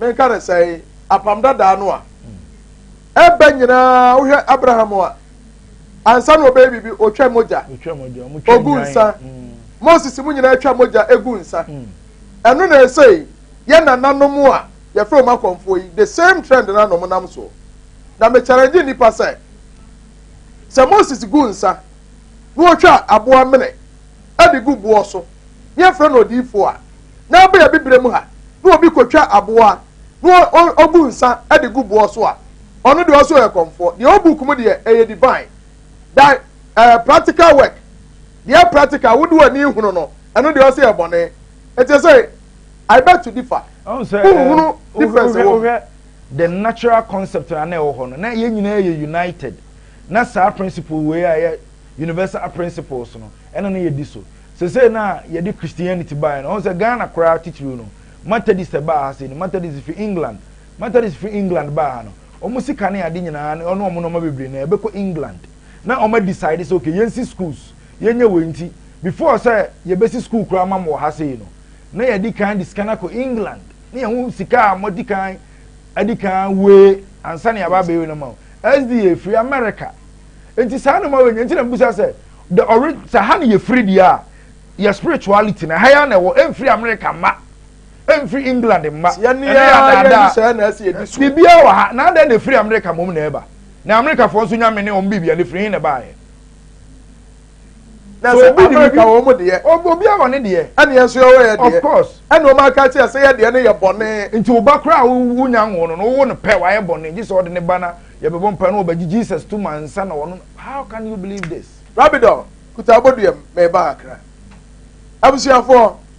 menka ne sɛ apam dadaa no a ɛbɛ nyinaa wohwɛ abraham a ansa na ɔbɛyɛ biribi ɔtwa mogya ɔgu nsa mm. moses mu nyinaa twa mogya ɛgu nsa mm. ɛno na ɛsei yɛ nananom a yɛfrɛ wɔn akɔmfoɔ yi the same trend na nom nam soɔ na mekyɛrɛgye nnipa sɛ Sɛ Moses gu nsa na ɔtwa aboa mene de gu boɔ so na yɛfrɛ no odiyifoɔ a, na ɛbɔ yɛ bibire mu ha na obi kɔtwa aboa na ɔgu nsa de gu boɔ so a, ɔno deɛ ɔsɛ ɔyɛ kɔmfoɔ. Deɛ ɔwɔ book mu deɛ ɛyɛ divine. Da uh, practical work deɛ practical wode w'ani hunu no ɛno deɛ ɔsɛ yɛ bɔne. Ɛte sɛ I beg to differ. Wohunu difference wɔ mu. the natural
concept a na ɛwɔ hɔ no, na yɛn nyinaa yɛ united. Na saa principle wei a ɛyɛ universal principles no, ɛna na yɛdi so. Sesei na yɛde Christianity baeɛ no, ɔho sɛ Ghana koraa titiriw no, Methodist ɛbaa ha sei no, Methodist fi England. Methodist fi England baa ha no, wɔn sika ne ade nyinaa ne wɔn nneɛma bebree na ɛbɛkɔ England. Na wɔn decide sɛ okay, yɛnsi schools, yɛnyɛ wei nti, before sɛ yɛbɛsi school koraa ma mo wɔ ha sei no, na yɛadi kan de sika no akɔ england na yɛho sika a mɔdi kan adi kan wee ansa na yɛaba abɛyi no ma wo sda firi america nti saa no ma wei nyɛ nti na mbusa sɛ the ɔre sɛ ha no yɛfiri deɛ a yɛ spirituality na ha yɛ na ɛwɔ ɛmfiri america mma ɛmfiri england mma ɛne yɛ adaadaa
biribiara wɔ ha na adɛn na
ɛfiri america mmom na ɛba na americafoɔ nso nyame ne ɔm biribia ne firi he na ɛbaeɛ
Na sɛ obi de ka wɔn deɛ. Obi a wɔne deɛ.
Ɛne yɛn nso yɛ wɔyɛ deɛ.
Of course. Ɛne wɔn aka
akyerɛ sɛ
yɛ deɛ no yɛ bɔne. Nti wo ba koraa a
wonya nwo no no wowo no pɛ wayɛ bɔne gye sɛ ɔde ne ba na yɛbɛbɔ mpae na wɔbɛgye Jesus tom ansa na wɔno how can you believe this. Rabidor, Kuta
abodua mu, mereba Accra. Abusuafoɔ,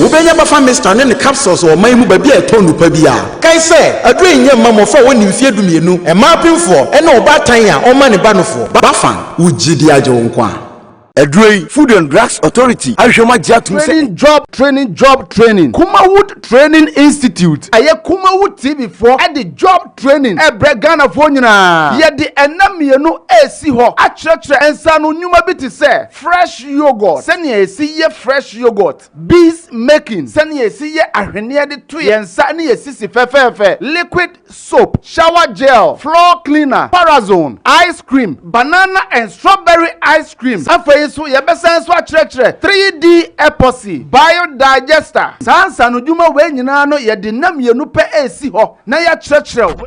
Wobenya Bafa Mixture ne ne capsules wɔ man mu baabi a ɛtɔ nnupa biara. Kae sɛ, aduro yi nyɛ mma mmɔfra a wɔnni mfeɛ dumienu, mmaa apemfoɔ, ɛne ɔbaatan a ɔmma ne ba nofoɔ. Bafa, wo gyidie agye wo nkwa. Aduro yi, Food and Drugs Authority ahwehwɛ mu agye atom sɛ. Training Job Training Job
Training Kumawood Training Institute ɛyɛ Kumawood TV foɔ de Job Training rebrɛ Ghanafoɔ nyinaa. Yɛde nna mmienu resi hɔ akyerɛkyerɛ nsaano nnwuma bi te sɛ. Fresh yoghurt, sɛnea yɛsi yɛ fresh yoghurt, bees making, sɛnea yɛsi yɛ ahweneɛ de to yɛn nsa ne yɛn sisi fɛfɛɛfɛ, liquid soap, shower gel, floor cleaner, parazone, ice cream, banana and strawberry ice creams, afei nso yɛbɛsan nso akyerɛkyerɛ 3D epoxy, biodigester. Saa nsaanodwuma wei nyinaa no yɛde nna mmienu pɛ resi hɔ na yɛakyerɛkyerɛ wo.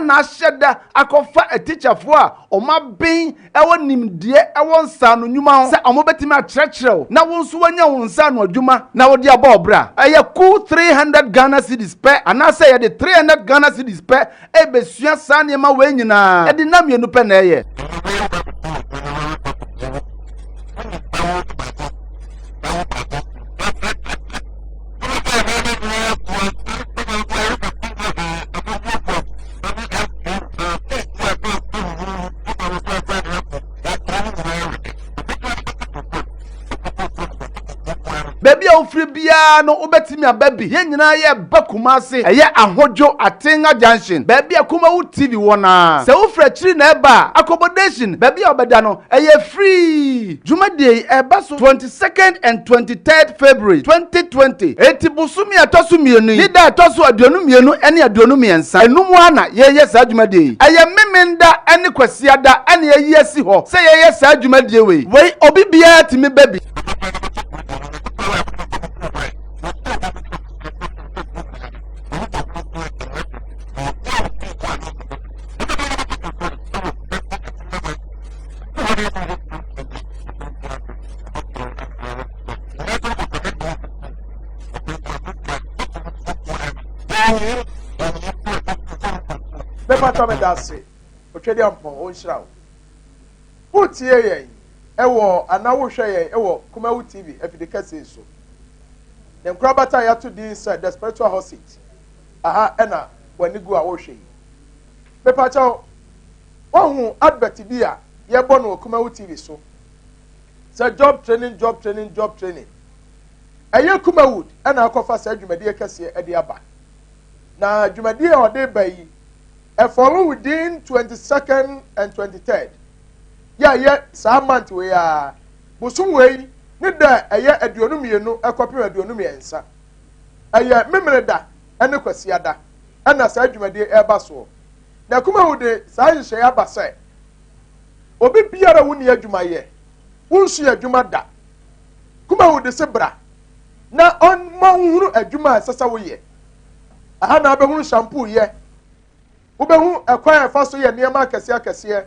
na ahyɛ da akɔfa atikyafoɔ a wɔaben wɔ nimdeɛ wɔ nsaano nnwuma ho sɛ wɔbɛtumi akyerɛkyerɛ wo na wo nso woanya wo nsaano adwuma na wode abɔ wo bra. Ɛyɛ kuw three hundred Ghana cedis pɛ anaasɛ yɛde three hundred Ghana cedis pɛ rebɛsua saa nneɛma wei nyinaa. Ɛde nna mmienu pɛ na ɛyɛ. baabi a wofiri biara no wobɛtumi aba bi yɛn nyinaa yɛ ba kuma ase ɛyɛ ahodwo atenga junction baabi a kuma wo tv wɔ na sɛ wofiri akyiri na ɛba a accommodation baabi a wɔbɛda no ɛyɛ free dwumadie yi ɛba so 20 second and twenty third February twenty twenty eti bosome a ɛtɔ so mmienu yi ne da a ɛtɔ so aduonu mmienu ne aduonu mmiɛnsa enum ara na yɛyɛ saa dwumadie yi ɛyɛ memenda ne kwasiada na yɛayi asi hɔ sɛ yɛyɛ saa dwumadie wei wei obi biara tumi ba bi.
ase ɔtwɛdeɛ mpɔn ɔnhyira wo wotie yɛn ɛwɔ anaa wohwɛ yɛn ɛwɔ kumawu tv afide kɛse so ne nkorabata yɛato din sɛ the spiritual hot seat aha ɛna w'ani gu a wohwɛ yi Mepakyɛw, woahu advert bi a yɛbɔ no wɔ Kumawu TV so? Sɛ job training, job training, job training. Ɛyɛ Kumawood ɛna akɔfa saa dwumadie kɛseɛ ɛde aba. Na dwumadie a ɔde ba yi, ɛfɔlo within 22nd and 23rd. Yɛayɛ saa month wei a, bosom wei ne da ɛyɛ aduonu mmienu ɛkɔpem aduonu mmiɛnsa. Ɛyɛ Memeneda ɛne Kwasiada. ɛna saa dwumadie ɛreba soɔ. Na Kumawu de saa nhyehyɛeɛ aba sɛ obi biara a wonni adwuma yɛ, wonsua adwuma da. Kumawu de se bra na ɔma wohunu adwuma a ɛsɛ sɛ woyɛ. Aha na wobɛhunu shampoo yɛ, wobɛhu ɛkwan a ɛfa so yɛ nneɛma akɛseɛ akɛseɛ.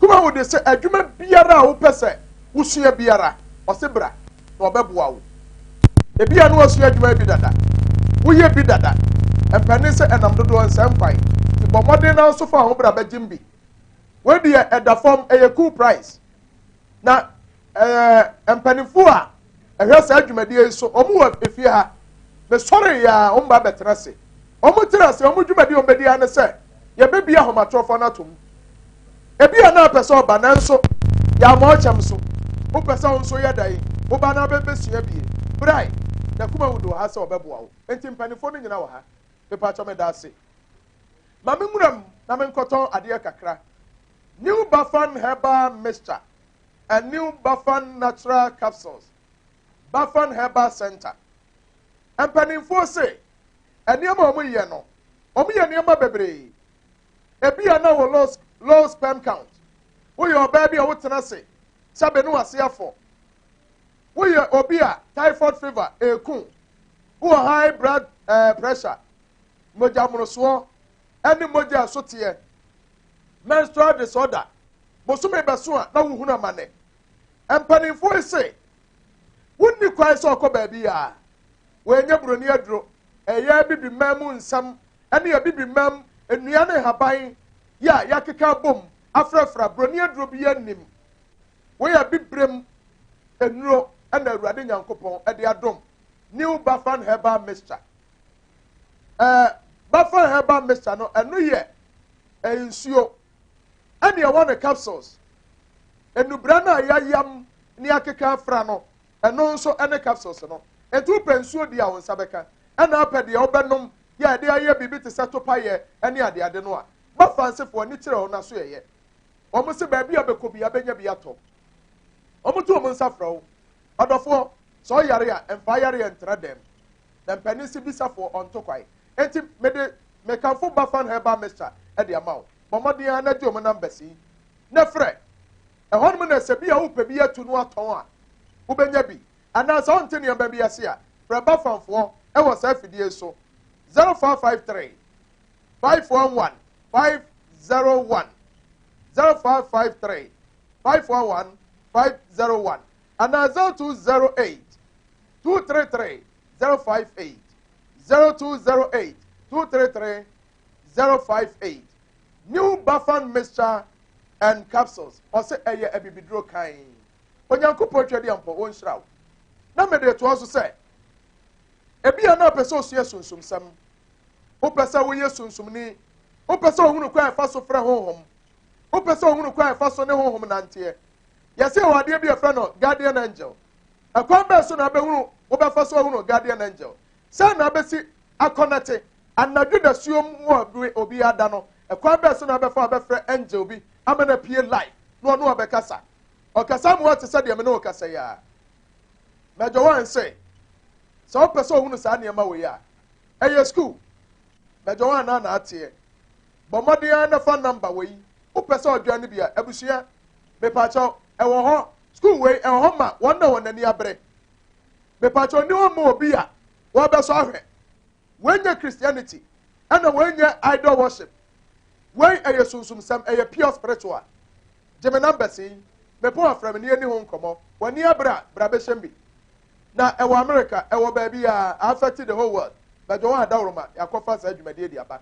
Kumawu de sɛ adwuma biara a wopɛ sɛ wosua biara, ɔse bra. na ɔbɛboa wo. Ebia na ɔsua adwuma bi dada, woyɛ bi dada, ɛmpɛ ne sɛ ɛnam dodoɔ nsɛm kwan, nti bɔ mmɔden na nso fa wo ho bra bɛgyem bi. Wei deɛ ɛda fam, ɛyɛ cool price. Na ɛɛ mpanimfoɔ a ɛhwɛ saa dwumadie yi so, wɔn wɔ efie ha. Mesɔre yɛ a wɔn ba bɛtena ase. Wɔn tiri ase, wɔn dwumadi a wɔbɛdi ara ne sɛ yɛbɛbie ahomatorofo no atom. Ebi a na apɛ sɛ ɔba nanso yɛama ɔkyɛm so. Wopɛ sɛ wo nso yɛ dɛn? Wo ba no abɛbɛsua bie. Brae, n'akoma wu de wɔ ha sɛ ɔbɛboa wo. Enti mpanimfoɔ no nyina wɔ ha. Mepakyɛ meda ase. Ma me nwura mu na menkɔtɔn adeɛ kakra. New Bafan herbal mixture and new Bafan natural capsules. Bafan Herbal Center. Mpanimfoɔ se nneɛma a wɔyɛ no, wɔyɛ nneɛma bebree. Ebi a na wɔ low, low sperm count. Woyɛ ɔbaa bi a wotena ase sɛ bene wase afɔ. Woyɛ obi a typhoid fever eku. Wowɔ high blood eh, pressure, mogya mmorosoɔ, ɛne mogya ɛsoteɛ, menstrual disorder. Bosome bɛso a na wohunu amane. Mpanimfoɔ yi se wonni kwan sɛ ɔkɔ baabi a wɔnyɛ buroni aduro, ɛyɛ Abibiman mu nsɛm ne Abibiman nnua ne nhaban yi a yɛakeka abom afrafra. Buroni aduro biara nnim. Wei yɛ Abibirem nnuro na Awurade Nyankopɔn de adom. New Bafan Herbal Mixture. Ɛɛ Bafan Herbal Mixture no ɛno yɛ nsuo ɛne ɛwɔ no capsules. Nnubra no a yɛayam ne akeka afra no, ɛno nso ne capsules no. Enti wopɛ nsuo di a wo nsa bɛka, ɛna wopɛ deɛ wobɛnom yɛ a yɛde ayɛ biribi te sɛ topaeɛ ne adeade no a, ma Fransefoɔ ani kyerɛ wo na so yɛyɛ. Wɔn se baabi a wobɛkɔ biara bɛnya bi atɔ. Wɔto wɔn nsa frɛ wo. Ɔdɔfoɔ, sɛ ɔyare a, mfa ayareɛ ntra dɛm. na mpanin si bisa foɔ ɔnto kwae enti mede me kanfo bafan herbal mixture ɛde ama wo bɔ mmɔden ara na gye ɔmo numbers yi na frɛ ɛhɔnom na sɛ bi a wopɛ bi atu no atɔn a wobɛnya bi anaa sɛ wonte nneɛma bi ase a frɛ bafanfoɔ ɛwɔ saa afidie yi so 0553 511 501 0553 511 501 anaa 0208 two three three zero five eight zero two zero eight two three three zero five eight new bafan mixture and capsules ɔsɛ ɛyɛ abibiduro kan onyankopɔn twɛ deɛ mpɔ wɔn nhyira wo na mede toɔ so sɛ ebi yɛn na ɔpɛ sɛ osua sunsum sɛm wopɛ sɛ woyɛ sunsumni wopɛ sɛ ohunu kwan ɛfa so frɛ honhom wopɛ sɛ ohunu kwan ɛfa so ne honhom nanteɛ yɛsɛ wɔ adeɛ bi ɛfrɛ no guardian angel Ɛkwan bɛn so na wobɛhunu wobɛfa so ahunu Guardian Angel? Sɛn na wobɛsi akɔ no te? Anadwo dasuom wɔ bere obiara da no, ɛkwan bɛn so na wobɛfa abɛfrɛ angel bi ama no apue live na ɔne wo abɛkasa? Ɔkasa ama woate sɛ deɛ me ne wo kasa yi ara. Major Warren se, sɛ wopɛ sɛ ohunu saa nneɛma wei a, ɛyɛ sukuu. Major Warren ara na ateɛ. Bɔ mmɔden ara na fa number wei. Wopɛ sɛ ɔdwɛn no bi a, abusua, mepaakyɛw, ɛwɔ hɔ. School wei, ɛwɔ hɔ ma wɔn na wɔn ani abere. Mepaakyɛw, nni hɔ ma obi a wɔbɛsɔ ahwɛ. Wei nyɛ Christianity, ɛna wei nyɛ idol worship. Wei, ɛyɛ sunsumsɛm, ɛyɛ pure spiritual. Gye me numbers yi. Mepɛ wo afrɛ me na yɛnni ho nkɔmmɔ. W'ani abere a, bra bɛhyɛm bi. Na ɛwɔ America, ɛwɔ baabiara, a affect the whole world. Bɛdwo wo a, daworo ma yɛakɔfa saa dwumadie de aba.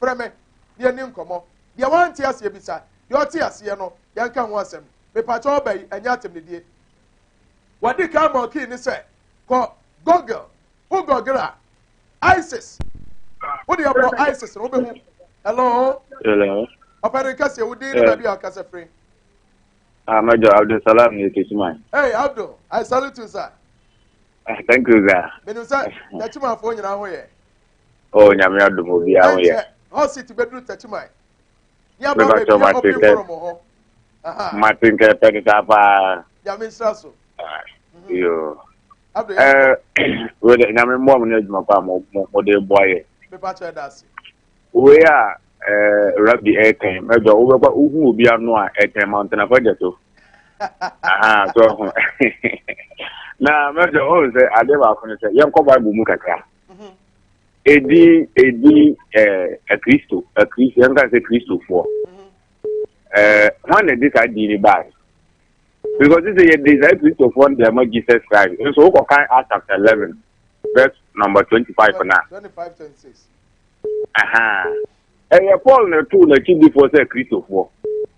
Frɛ me na yɛnni nkɔmmɔ. Deɛ wante aseɛ bisa. Deɛ ɔte aseɛ no, yɛnka ho asɛm. Mepakyɛ wo, aba yi, ɛnyɛ atɛmnidie. Wadi kan ma ɔkii ne sɛ, Kɔ Google. Wo Google a, ISIS. Wode abɔ ISIS no, wobɛhu. Hello? Hello? Ɔpɛ ne nkaseɛ, wo din ne baabi a ɔkasa firi. Ah,
Major Abdul Salam ne Kisiman. Hey, Abdul,
I salute you, sir. Ah, thank
you, sir. Menim sɛ,
Kisimanfoɔ nyinaa ho yɛ. Oh, nyame
adom obi aho yɛ. Hot seat beduru
tachiman. Ni aba ba bi a obi foro mo ho.
Aha. Martin ke pedi ta pa. Nyame nsra so.
Ah, mhm. Yo.
Ado ya. Eh, we de nyame mbo mo na adwuma pa mo mo de bo aye. Me pa che da
ase. We ya
eh rabbi eh ten. Me do we kwa uhu obi ano a eh ten mountain afa jeto. Aha, so. Na me do oh se ade ba ko ne se yen ko bible mu kakra. ɛdi ɛdi akristo eh, akristo yɛnka sɛ kristofoɔ hwan na ɛde saa din no bae because sɛ yɛde saa kristofoɔ no deɛ ma jesus christ nso wokɔkan act chapter eleven verse number twenty five na ɛyɛ paul na ɛtoo n'akyidifoɔ sɛ kristofoɔ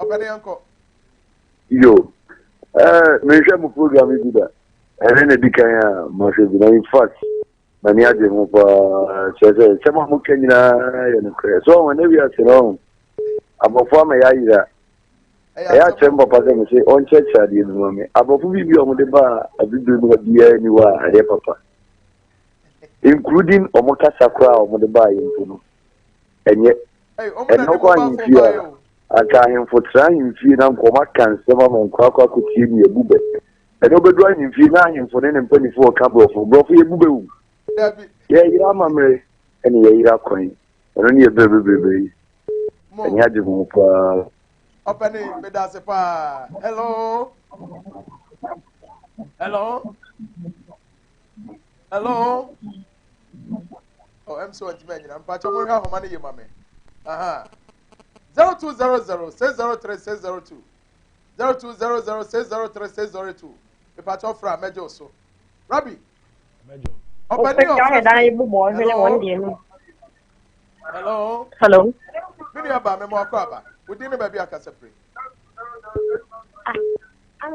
ɔpɛne yɛnkɔ yo
eh, menhwɛ mo program bi da ɛne na di kan a mahwɛ bi na in fact m'ani agye ho paa kyerɛ sɛ nsɛm a moka nyinaa yɛ nokorɛ so ɔho ne wiase no ɔho abɔfo ama yɛayera ɛyɛ akyerɛ m papa sɛ me se ɔnkyerɛkyerɛ adeɛ bi ma me abɔfo bi bi ɔmo de baa abibire mu biara ni hɔ a ɛyɛ papa including ɔmo kasa koraa a ɔmo de baa yɛ mpo no ɛnyɛ ɛnna ɔkɔ ahemfie a anka ahemfo tra ahemfie na nkɔm aka nsɛm ama nkorakora akotie ne yɛbu bɛ ɛnna ɔbɛdu ahemfie na ahemfo ne ne mpanimfoɔ ɔka borɔfo borɔfo yɛbu bɛ wu yɛyera amammerɛ ɛne yɛyera kwan ɛno ne yɛbrɛ bebrebe yi ɛne agye ho paa
ɔpɛne medase paa
hello
hello Hello. Oh, I'm so intimate. I'm patching my home money, you mammy. Aha. 0200 603 602. 0200 603 602. If I talk for a major so. Rabbi. Major.
Open your
Hello. Hello. Hello.
Mini aba
me mo akọ aba. Wodi ne ba bi akasa pre. Ah. I'm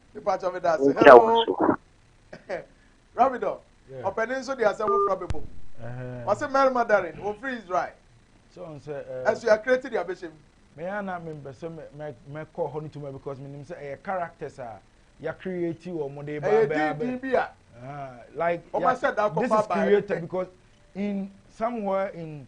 nhyira wo so ɔpɛne nso de asɛm foforɔ bɛbɔ mu wɔse mmarima darin wɔmfiri israel
asuakrɛ ti de
abɛhyɛ mu meyɛ na mempɛ
sɛ mɛkɔ hɔ no tuma because menim sɛ ɛyɛ characters a yɛacreate wɔ mo de baabɛabɛ like yeah, this is created because in somewhere in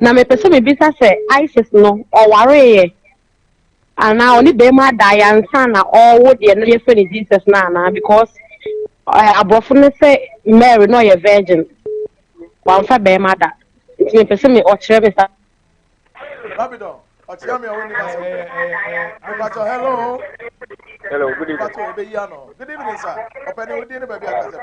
Na mepɛ sɛ mebisa sɛ Isis no ɔwareeɛ anaa ɔne bɛrima daeɛ ansa na ɔrewo deɛ na yɛfrɛ no Jesus no anaa because eh, aborɔfo no sɛ Mary na ɔyɛ virgin wamfa bɛrima da nti mepɛ sɛ me ɔkyerɛ me sa
Babylon, ɔkyerɛ me a wɔnni ma so. Mepatɔ, hello. Hello, good evening.
Mepatɔ, ebe yi ano. Good evening,
sir. Ɔpɛni, wodi ne baabi akasɛ.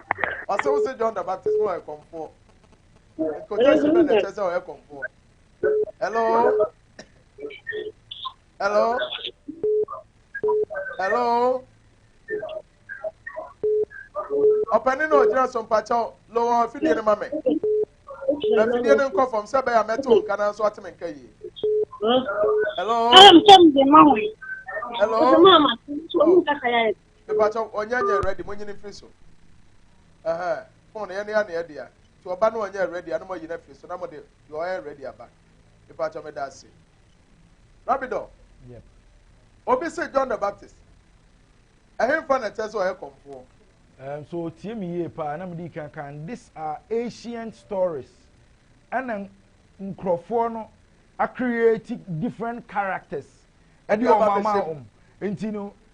ɔsɛ wo sɛ john the baptist na ɔyɛ kɔmfoɔ nkɔtɛsi bɛ na ɛkyɛ sɛ ɔyɛ kɔmfoɔ hello hello hello ɔpɛni na ɔgyina so mpakyɛw lowɔ afidie no ma me na afidie no nkɔ fam sɛ bɛyɛ a mɛte wo nka na nso ate me nka yie hello hello Mepakyɛw ɔnyɛ nyɛ ready mo nyini mfiri so ɛhɛɛ phone no yɛ no yɛ ne yɛ dea nti ɔba no ɔnyɛ ready a na mo ayi no afiri so na mo de deɛ ɔyɛ ready aba mepakyɛw meda ase Rabidɔ yep
obi
se John the Baptist ɛhenfa na ɛkyɛ sɛ ɔyɛ kɔmfoɔ. Um, so
tie me yie paa na mede kan kan these are ancient stories ɛna nkurɔfoɔ no a create different characters ɛde wɔn ama wɔn nti no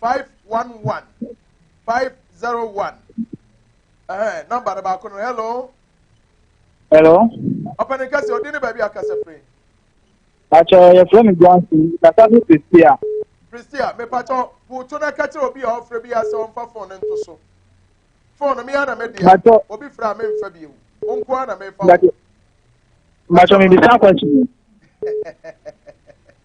511 501 ɛhɛn eh, namba no baako no hello. hello.
ɔpɛni
kɛse ɔdi ne baabi akasa firi. pàtó
yɛfrɛ mi johnson kasa fi pristia. pristia mi
pàtó wòtó na kɛtẹ obi a ɔfrɛ bi asɛ ɔnfa fon ne nto so fon no mi yà na mi di a obi fira a mi nfa bi ewu o nko ara na mi fa o.
pàtó mi bi sá kwasi.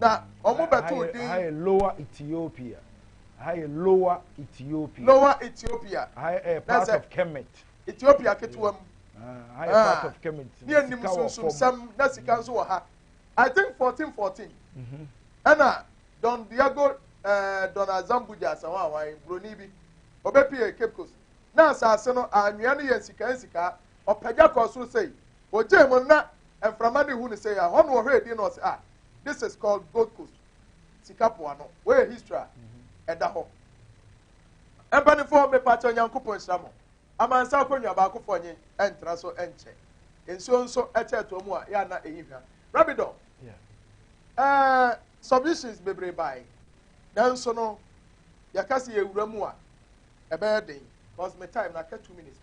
Na wɔn bɛtoo din. Aha yɛ Lower
Ethiopia. Aha yɛ Lower Ethiopia. Lower Ethiopia.
Aha yɛ eh, part of
Kemet. Ethiopia ketewa
mu. Aha yɛ part
of Kemet. Ne anim sunsunsɛm
na sika nso wɔ ha. I think fourteen fourteen. Mhm. Ɛna Don Diego eh, Don Azambuja asawa awan buroni bi ɔbɛpie Cape Coast na asase no anwea no yɛ nsikaa nsikaa ɔpagya kɔɔ soro sei Ogyae mu no na mframa de hu no sɛ ɛhɔ na ɔhwɛ edi na ɔse ah this is called Gold Coast sika po ano wei yɛ history a ɛda hɔ mpanyinfoɔ mepakyɛ Nyankopɔn nhyira mo amansa akonnwa baakofoɔ nye ɛntra so ɛnkyɛ nsuo nso ɛkyɛ ɛtoɔ mu a yɛ ana ɛyi hwa rabidɔ ɛɛ submissions bebree bae nanso no yɛka sɛ yɛwura mu a ɛbɛyɛ den cause me time na aka two minutes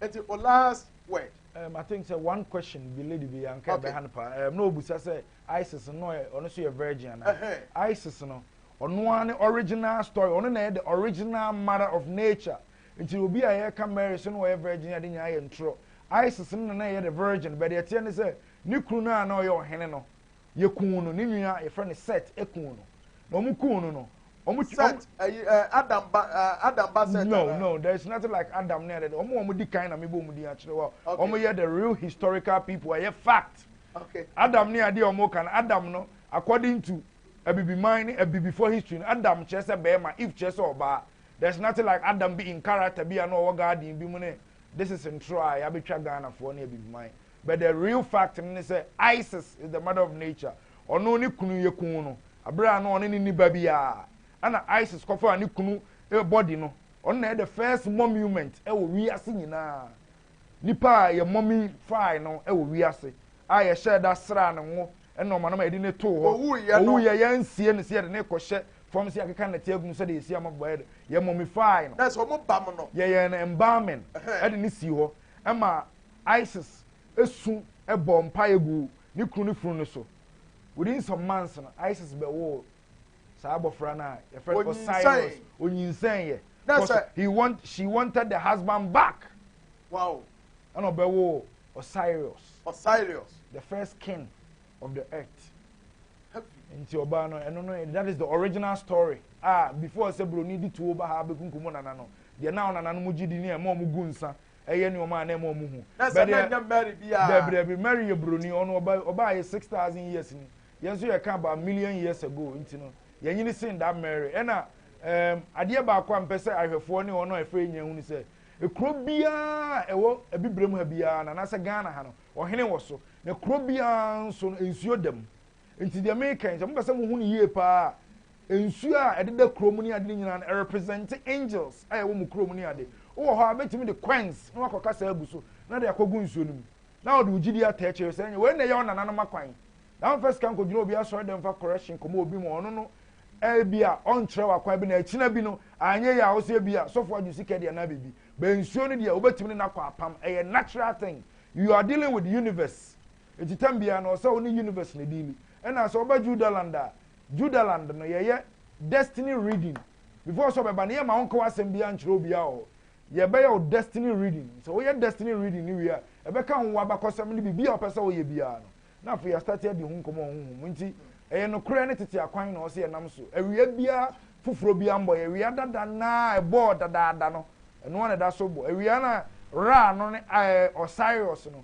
pɛ nti o last word. Um, I think sɛ
one question bi lady bi anka okay. ɛbɛha no paa um, na obusa sɛ ISIS no ɛ ɔno so yɛ virgin ana uh -huh. ISIS no ɔno ara ne original story ɔno na yɛ the original mother of nature nti obi a yɛka Mary so no ɔyɛ virgin ade nyinaa yɛ ntorɔ ISIS no na na yɛ the virgin bɛdeɛ teɛ ne sɛ ne kunu no a na ɔyɛ ɔhene no Yɛkuu no, ne nua a yɛfrɛ no Set kuu no. Na wɔn kuu no no, wɔn ti. Set, ɛyi ɛ Adam ba ɛ Adam ba Set. No no, there is nothing like Adam ne ɛdɛdɛ. Wɔn a wɔn di kan na mebɔ wɔn din akyerɛ wa. Wɔn yɛ the real historical people, ɛyɛ fact. Okay. Adam
ne adeɛ a wɔn
ka no, Adam no, according to abibiman ne abibifoɔ history no, Adam kyerɛ sɛ bɛrima, Eve kyerɛ sɛ ɔbaa. There is nothing like Adam bi in character bi a na ɔwɔ garden bi mu ne this is ntorɔ a yɛabɛtwa Ghanafoɔ ne abibiman. But the real fact no ne sɛ Isis is the mother of nature. Ɔno ne kunu yɛ kuu no bere a na ɔne no nni ba biara. Ɛna Isis kɔfaa ne kunu body no. Ɔno na ɛyɛ the first momument wɔ wiase nyinaa. Nipa a yɛ mumify no wɔ wiase a yɛhyɛɛ da sraa ne ngo ne ɔma no ma yɛde no too hɔ. Ɔwuiɛ yɛansie no sɛ yɛde no kɔhyɛ fam sɛ yɛakeka nnɛte agu mu sɛdeɛ yɛsi amabɔeɛ no. Yɛ mumify no.
Yɛyɛɛ no
embalming de no sii hɔ ma Isis su bɔɔ mpaeɛ guu ne kunu ne funu no so. Within some months no, Isis bɛwoo saa abɔfra no a yɛfrɛ no Osiris. Onyinsɛneeɛ. Because he want, she wanted the husband back. Wow.
Ɛna ɔbɛwoo
Osiris. Osiris. The first king of the earth. Nti ɔbaa no, ɛno no, that is the original story. Ah, before sɛ buroni de tuo ba ha bɛkunkum nana no, deɛ na ɔnananom gye di ne ɛma wɔn gu nsa ɛyɛ nneɛma a na ɛma wɔn hu. na sɛ na nyɛ mary biara. dabi dabi mary yɛ buroni ɔno ɔba ɔbaa yɛ six thousand years ni yɛn nso yɛ ka about million years ago nti no yɛn nyini sin da mary ɛna ɛɛm adeɛ baako a mpɛ sɛ ahwɛfoɔ ne wɔn a ɛfɛ nyɛ hu ni sɛ ekuro biara ɛwɔ abibire mu ha biara na nasɛ ghana ha no ɔhene wɔ so na kuro biara nso no nsuo dɛm. Nti deɛ mereka yi, sɛ mopɛ sɛ mohu no yie paa a, nsuo a ɛdeda kuro mu ne ade no nyinaa no, ɛrepresente angels a ɛwɔ mo kuro mu ne ade. Wowɔ hɔ a, wobɛtumi de coins na woakɔ kasa agu so na de akɔgu nsuo no mu na wode wo gyidie ata akyire sɛ ɛnyɛ wei na ɛyɛ wo nananom akwan. Na mfa sika nkɔgyina obi asɔredan mu fa correction kɔma obi ma ɔno no ebia ɔnkyerɛ wo akwan bi na akyina bi no anyɛ yie a wo sɛ ebia sɔfo agye sika deɛ anaa biribi. Bɛn nsuo no deɛ wobɛtumi ne no akɔ apam. Ɛyɛ natural thing. You are dealing with the universe. Ntsi tam biara no ɔsɛ ɔnye universe no deali. Nna sɛ ɔba Judaland a, Judaland no yɛyɛ destiny reading. Before sɛ ɔbɛba no yɛmma ɔnnka w'asɛm biara nnkyerɛ obiara wɔ hɔ. Yɛbɛyɛ wo destiny reading. Sɛ woyɛ destiny reading no wie a, ɛbɛka wo w'abakɔsɛm ne biribi a wopɛ sɛ woyɛ biara no. Na afei yɛastate adi ho nkɔmbɔ wɔ honhom mu. Ntsi ɛyɛ nokorɛ ne tsetse akwan na ɔsɛ yɛnam so. Awia biara foforɔ biara mmbɔ yɛ. Awia dada no a ɛbɔɔ dadaada no, ɛno ara na ɛda so bɔ. Awia no a Ra no ne Ɔsairos no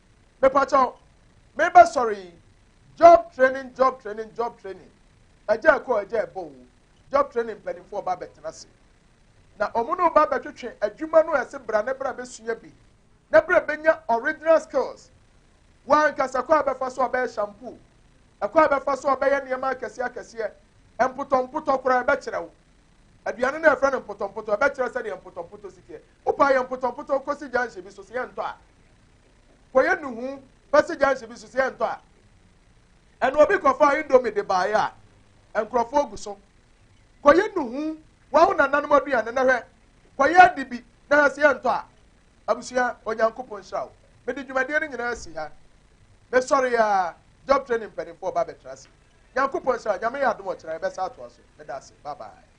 Mepakyɛw, me bɛ sɔre yi, job training job training job training, ɛgya ɛkɔ ɛgya ɛbɔ o, job training mpaninfoɔ ba bɛ tena se, na ɔmo ne wo ba bɛ twetwe adwuma no ɛse bra ne bra bɛ sua bi, ne bra bɛ nya original skills, wo ankasa kɔ a bɛ fa so a bɛ yɛ shampoo, ɛkɔ a bɛ fa so a bɛ yɛ nneɛma akɛseɛ akɛseɛ, mpotɔ mpotɔ koraa ɛbɛ kyerɛ wo, aduane no ɛfrɛ no mpotɔ mpotɔ ɛbɛ kyerɛ sɛdeɛ mpotɔ mpotɔ si teɛ, Wopa yɛ mpotɔmpotɔ kɔsi gyanhye bi so sɛ yɛntɔ a. Kɔyɛ nnuhu bɛsi gyanhye bi so sɛ yɛntɔ a. Ɛna obi kɔfaa indomie de baeɛ a, nkurɔfoɔ gu so. Kɔyɛ nnuhu wɔ wo nananom aduane na hwɛ, kɔyɛ ade bi na hwɛ sɛ yɛntɔ a. Abusua, Onyankopɔn nhyira wo. Mede dwumadie no nyinaa asi ha. Mesɔre a, Job Training mpanimfoɔ ba bɛtra ase. Nyankopɔn nhyira wo. Nyame yɛ adom ɔkyena yɛbɛsan atoa so. Meda ase. Bye bye.